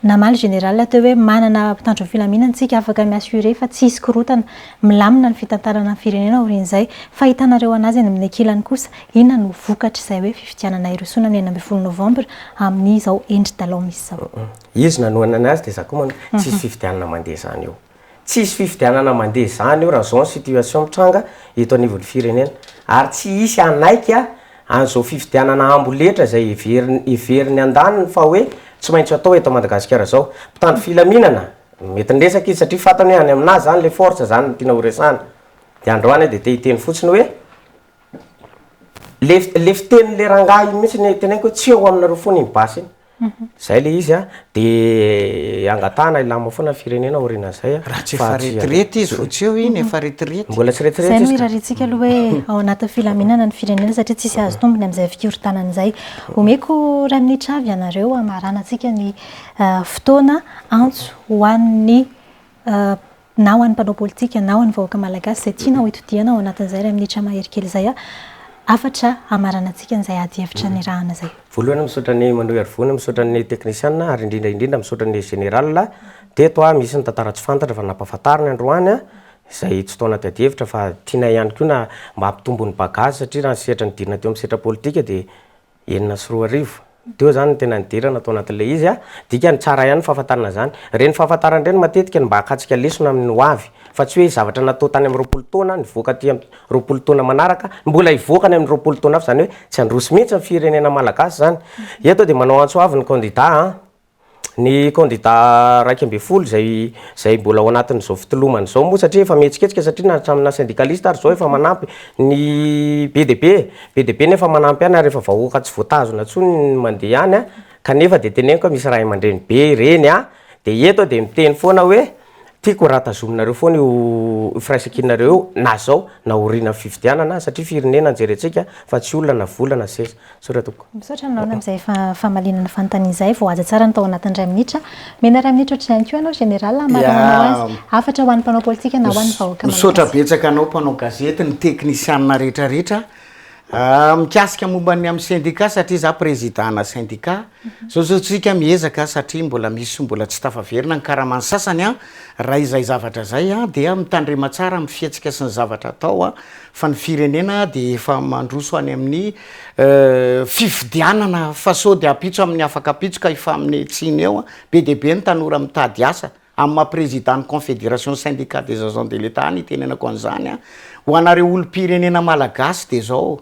Namaly Général teo hoe manana mpitandro ny filaminana isika afaka mi-assurer fa tsy hisy korontana, milamina ny fitantanana ny firenena aorian'izay. Fa hitanareo an'azy any amin'ny ankilany kosa inona no vokatr'izay hoe fifidianana hirosoana amin'ny enina ambin'ny folo novambra amin'izao endri-dalao misy izao. Izy nanohana an'azy dia izaho koa manohana, tsy hisy fifidianana mandeha izany eo. Tsy hisy fifidianana mandeha izany io raha izao ny situation mitranga eto anivon'ny firenena. Ary tsy hisy hanaiky an'izao fifidianana amboletra izay heveriny heverin'ny andaniny fa hoe tsy maintsy atao eto Madagasikara izao. Mpitandro filaminana, mety niresaka izy satria fantany hoe any aminà izany ilay force izany no tiana horesahana. Dia androany aho dia te hiteny fotsiny hoe, ilay ilay fitenin'ilay rangahy iny mihitsy no teneniko hoe tsy eo aminareo foana iny basy iny. Izay ilay izy an, dia angatahana hilamina foana ny firenena aorianan'izay an, Raha tsy efa fa tsy retirety izy vao tsy eo iny efa retirety. Mbola tsy retirety Izay no izy ka. irariantsika aloha hoe ao anatin'ny filaminana ny firenena satria tsisy azo tombony amin'izay fikorontanana izay. Omeko iray minitra avy ianareo hamaranantsika ny fotoana antso ho an'ny na ho an'ny mpanao politika na ho an'ny vahoaka malagasy izay tiana ho itodihana ao anatin'izay iray minitra mahery kely izay hafatra hamaranantsika an'izay ady hevitra nirahana izay. Voalohany misaotra an'i Manohy Harivony, misaotra ny teknisiana ary indrindra indrindra misaotra ny Général teto, misy ny tantara tsy fantatra fa nampahafantariny androany izay tsy tao anaty ady hevitra fa tianay ihany koa na mba hampitombo ny bagage satria raha ny sehatra nidirana teo amin'ny sehatra politika dia enina sy roa arivo teo zany no tena nidirana tao anatin'ilay izy a, dikany tsara ihany ny fahafantarana izany, ireny fahafantarana ireny matetika no mba hakatsika lesona amin'ny ho avy fa tsy hoe zavatra natao tany amin'ny roapolo taona nivoaka aty amin'ny roapolo taona manaraka mbola hivoaka any amin'ny roapolo taona hafa izany hoe tsy handroso mihitsy ny firenena malagasy izany, eto dia manao antso avy ny kandida a. Ny kandida iraika ambin'ny folo izay izay mbola ao anatin'izao fitolomana izao moa satria efa mihetsiketsika satria na hatramin'ny naha syndicaliste ary izao efa manampy ny be dia be be dia be ny efa manampy ihany ary efa vahoaka tsy voatazona intsony ny mandeha ihany an! kanefa dia teneniko hoe misy ray aman-dreny be ireny an! dia eto aho dia miteny foana hoe Tiako raha tazominareo foana io firaisankinanareo io na zao na aorianan'ny fifidianana satria firenena no jerentsika fa tsy olona na vola na seza. Misaotra tompoko. Misaotra anao amin'izay famaliana ny fanontaniana izay. Voahaja tsara ny tao anatin'ny iray minitra. Omena iray minitra ohatr'izay ihany koa ianao Général hamarana anao azy. Hafatra ho an'ny mpanao politika na ho an'ny vahoaka malagasy. Misaotra betsaka anao mpanao gazety, ny teknisianina rehetrarehetra. Mikasika momba ny amin'ny sendika satria za président ana sendika, zao zao tsika miezaka satria mbola misy mbola tsy tafaverina ny karaman'ny sasany an, raha izay zavatra zay an dia mitandrema tsara amin'ny fihetsika sy ny zavatra atao an, fa ny firenena dia efa mandroso any amin'ny fifidianana fa sao dia ampitso amin'ny afaka ampitso ka hifaminetsina eo an, be dia be ny tanora mitady asa. Amin'ny maha Président ny Confédération Syndicats des Agents de l'Etat ny itenenako an'izany an, ho anareo olom-pirenena Malagasy dia izao,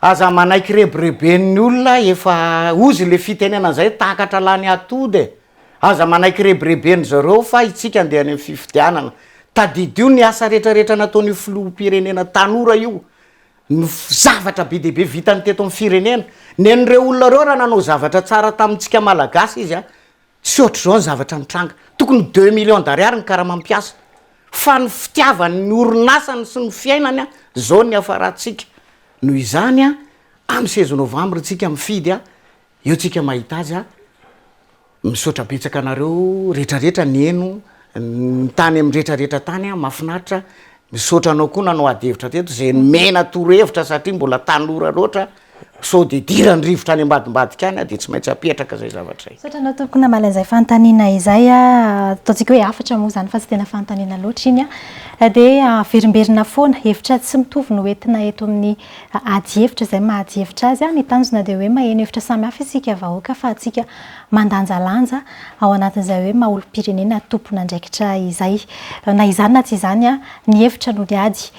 aza manaiky rebireben'ny olona efa ozy ilay fitenenana izay takatra lany atody e! aza manaiky rebireben'ny zareo fa itsika andeha any amin'ny fifidianana, tadidio ny asa retraretra nataon'io Filoham-pirenena tanora io, ny zavatra be dia be vitany teto amin'ny firenena, nen'ireo olona ireo raha nanao zavatra tsara tamintsika Malagasy izy an, Tsy ohatr'izao ny zavatra mitranga. Tokony ho deux millions d'ariary ny karamam piasa. Fa ny fitiavany ny orinasany sy ny fiainany zao no niafarantsika. Noho izany amin'ny seize novembre tsika mifidy a, eo tsika mahita azy a. Misaotra betsaka anareo retraretra niheno ny tany amin'ny retraretra tany a, mafinaritra. Misaotra anao koa nanao ady hevitra teto, zay nomena toro hevitra satria mbola tanora loatra. Sao dia idiran'ny rivotra any ambadimbadika any aho dia tsy maintsy hapetraka izay zavatra izay. Misaotra anao tompoko namaly an'izay fanontaniana izay. Ataontsika hoe hafatra moa izany fa tsy tena fanontaniana loatra iny. Dia averimberina foana. Hevitra tsy mitovy no entina eto amin'ny adihevitra izay maha adihevitra azy. Ny tanjona dia hoe maheno hevitra samihafa isika vahoaka afahantsika mandanjalanja ao anatin'izay hoe maha olom-pirenena tompon'andraikitra izay. Na izany na tsy izany. Ny hevitra no niady.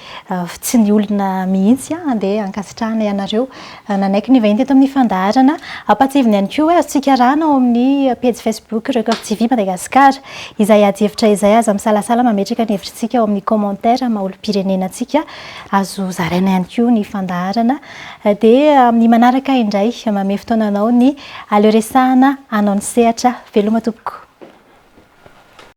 Tsy ny olona mihitsy an! Andeha hankasitrahana ianareo. Nanaiky ny vahiny teto amin'ny fandaharana. Ampahatsiaivina ihany koa hoe azo tsikarana ao amin'ny pejy Facebook Record TV Madagascar. Izay ady hevitra izay aza misalasala mametraka ny hevitritsika ao amin'ny commentaire maha olom-pirenena antsika. Azo zaraina ihany koa ny fandaharana. Dia amin'ny manaraka indray. Mamehy fotoana anao ny Aleo resahana hanao ny sehatra. Veloma tompoko.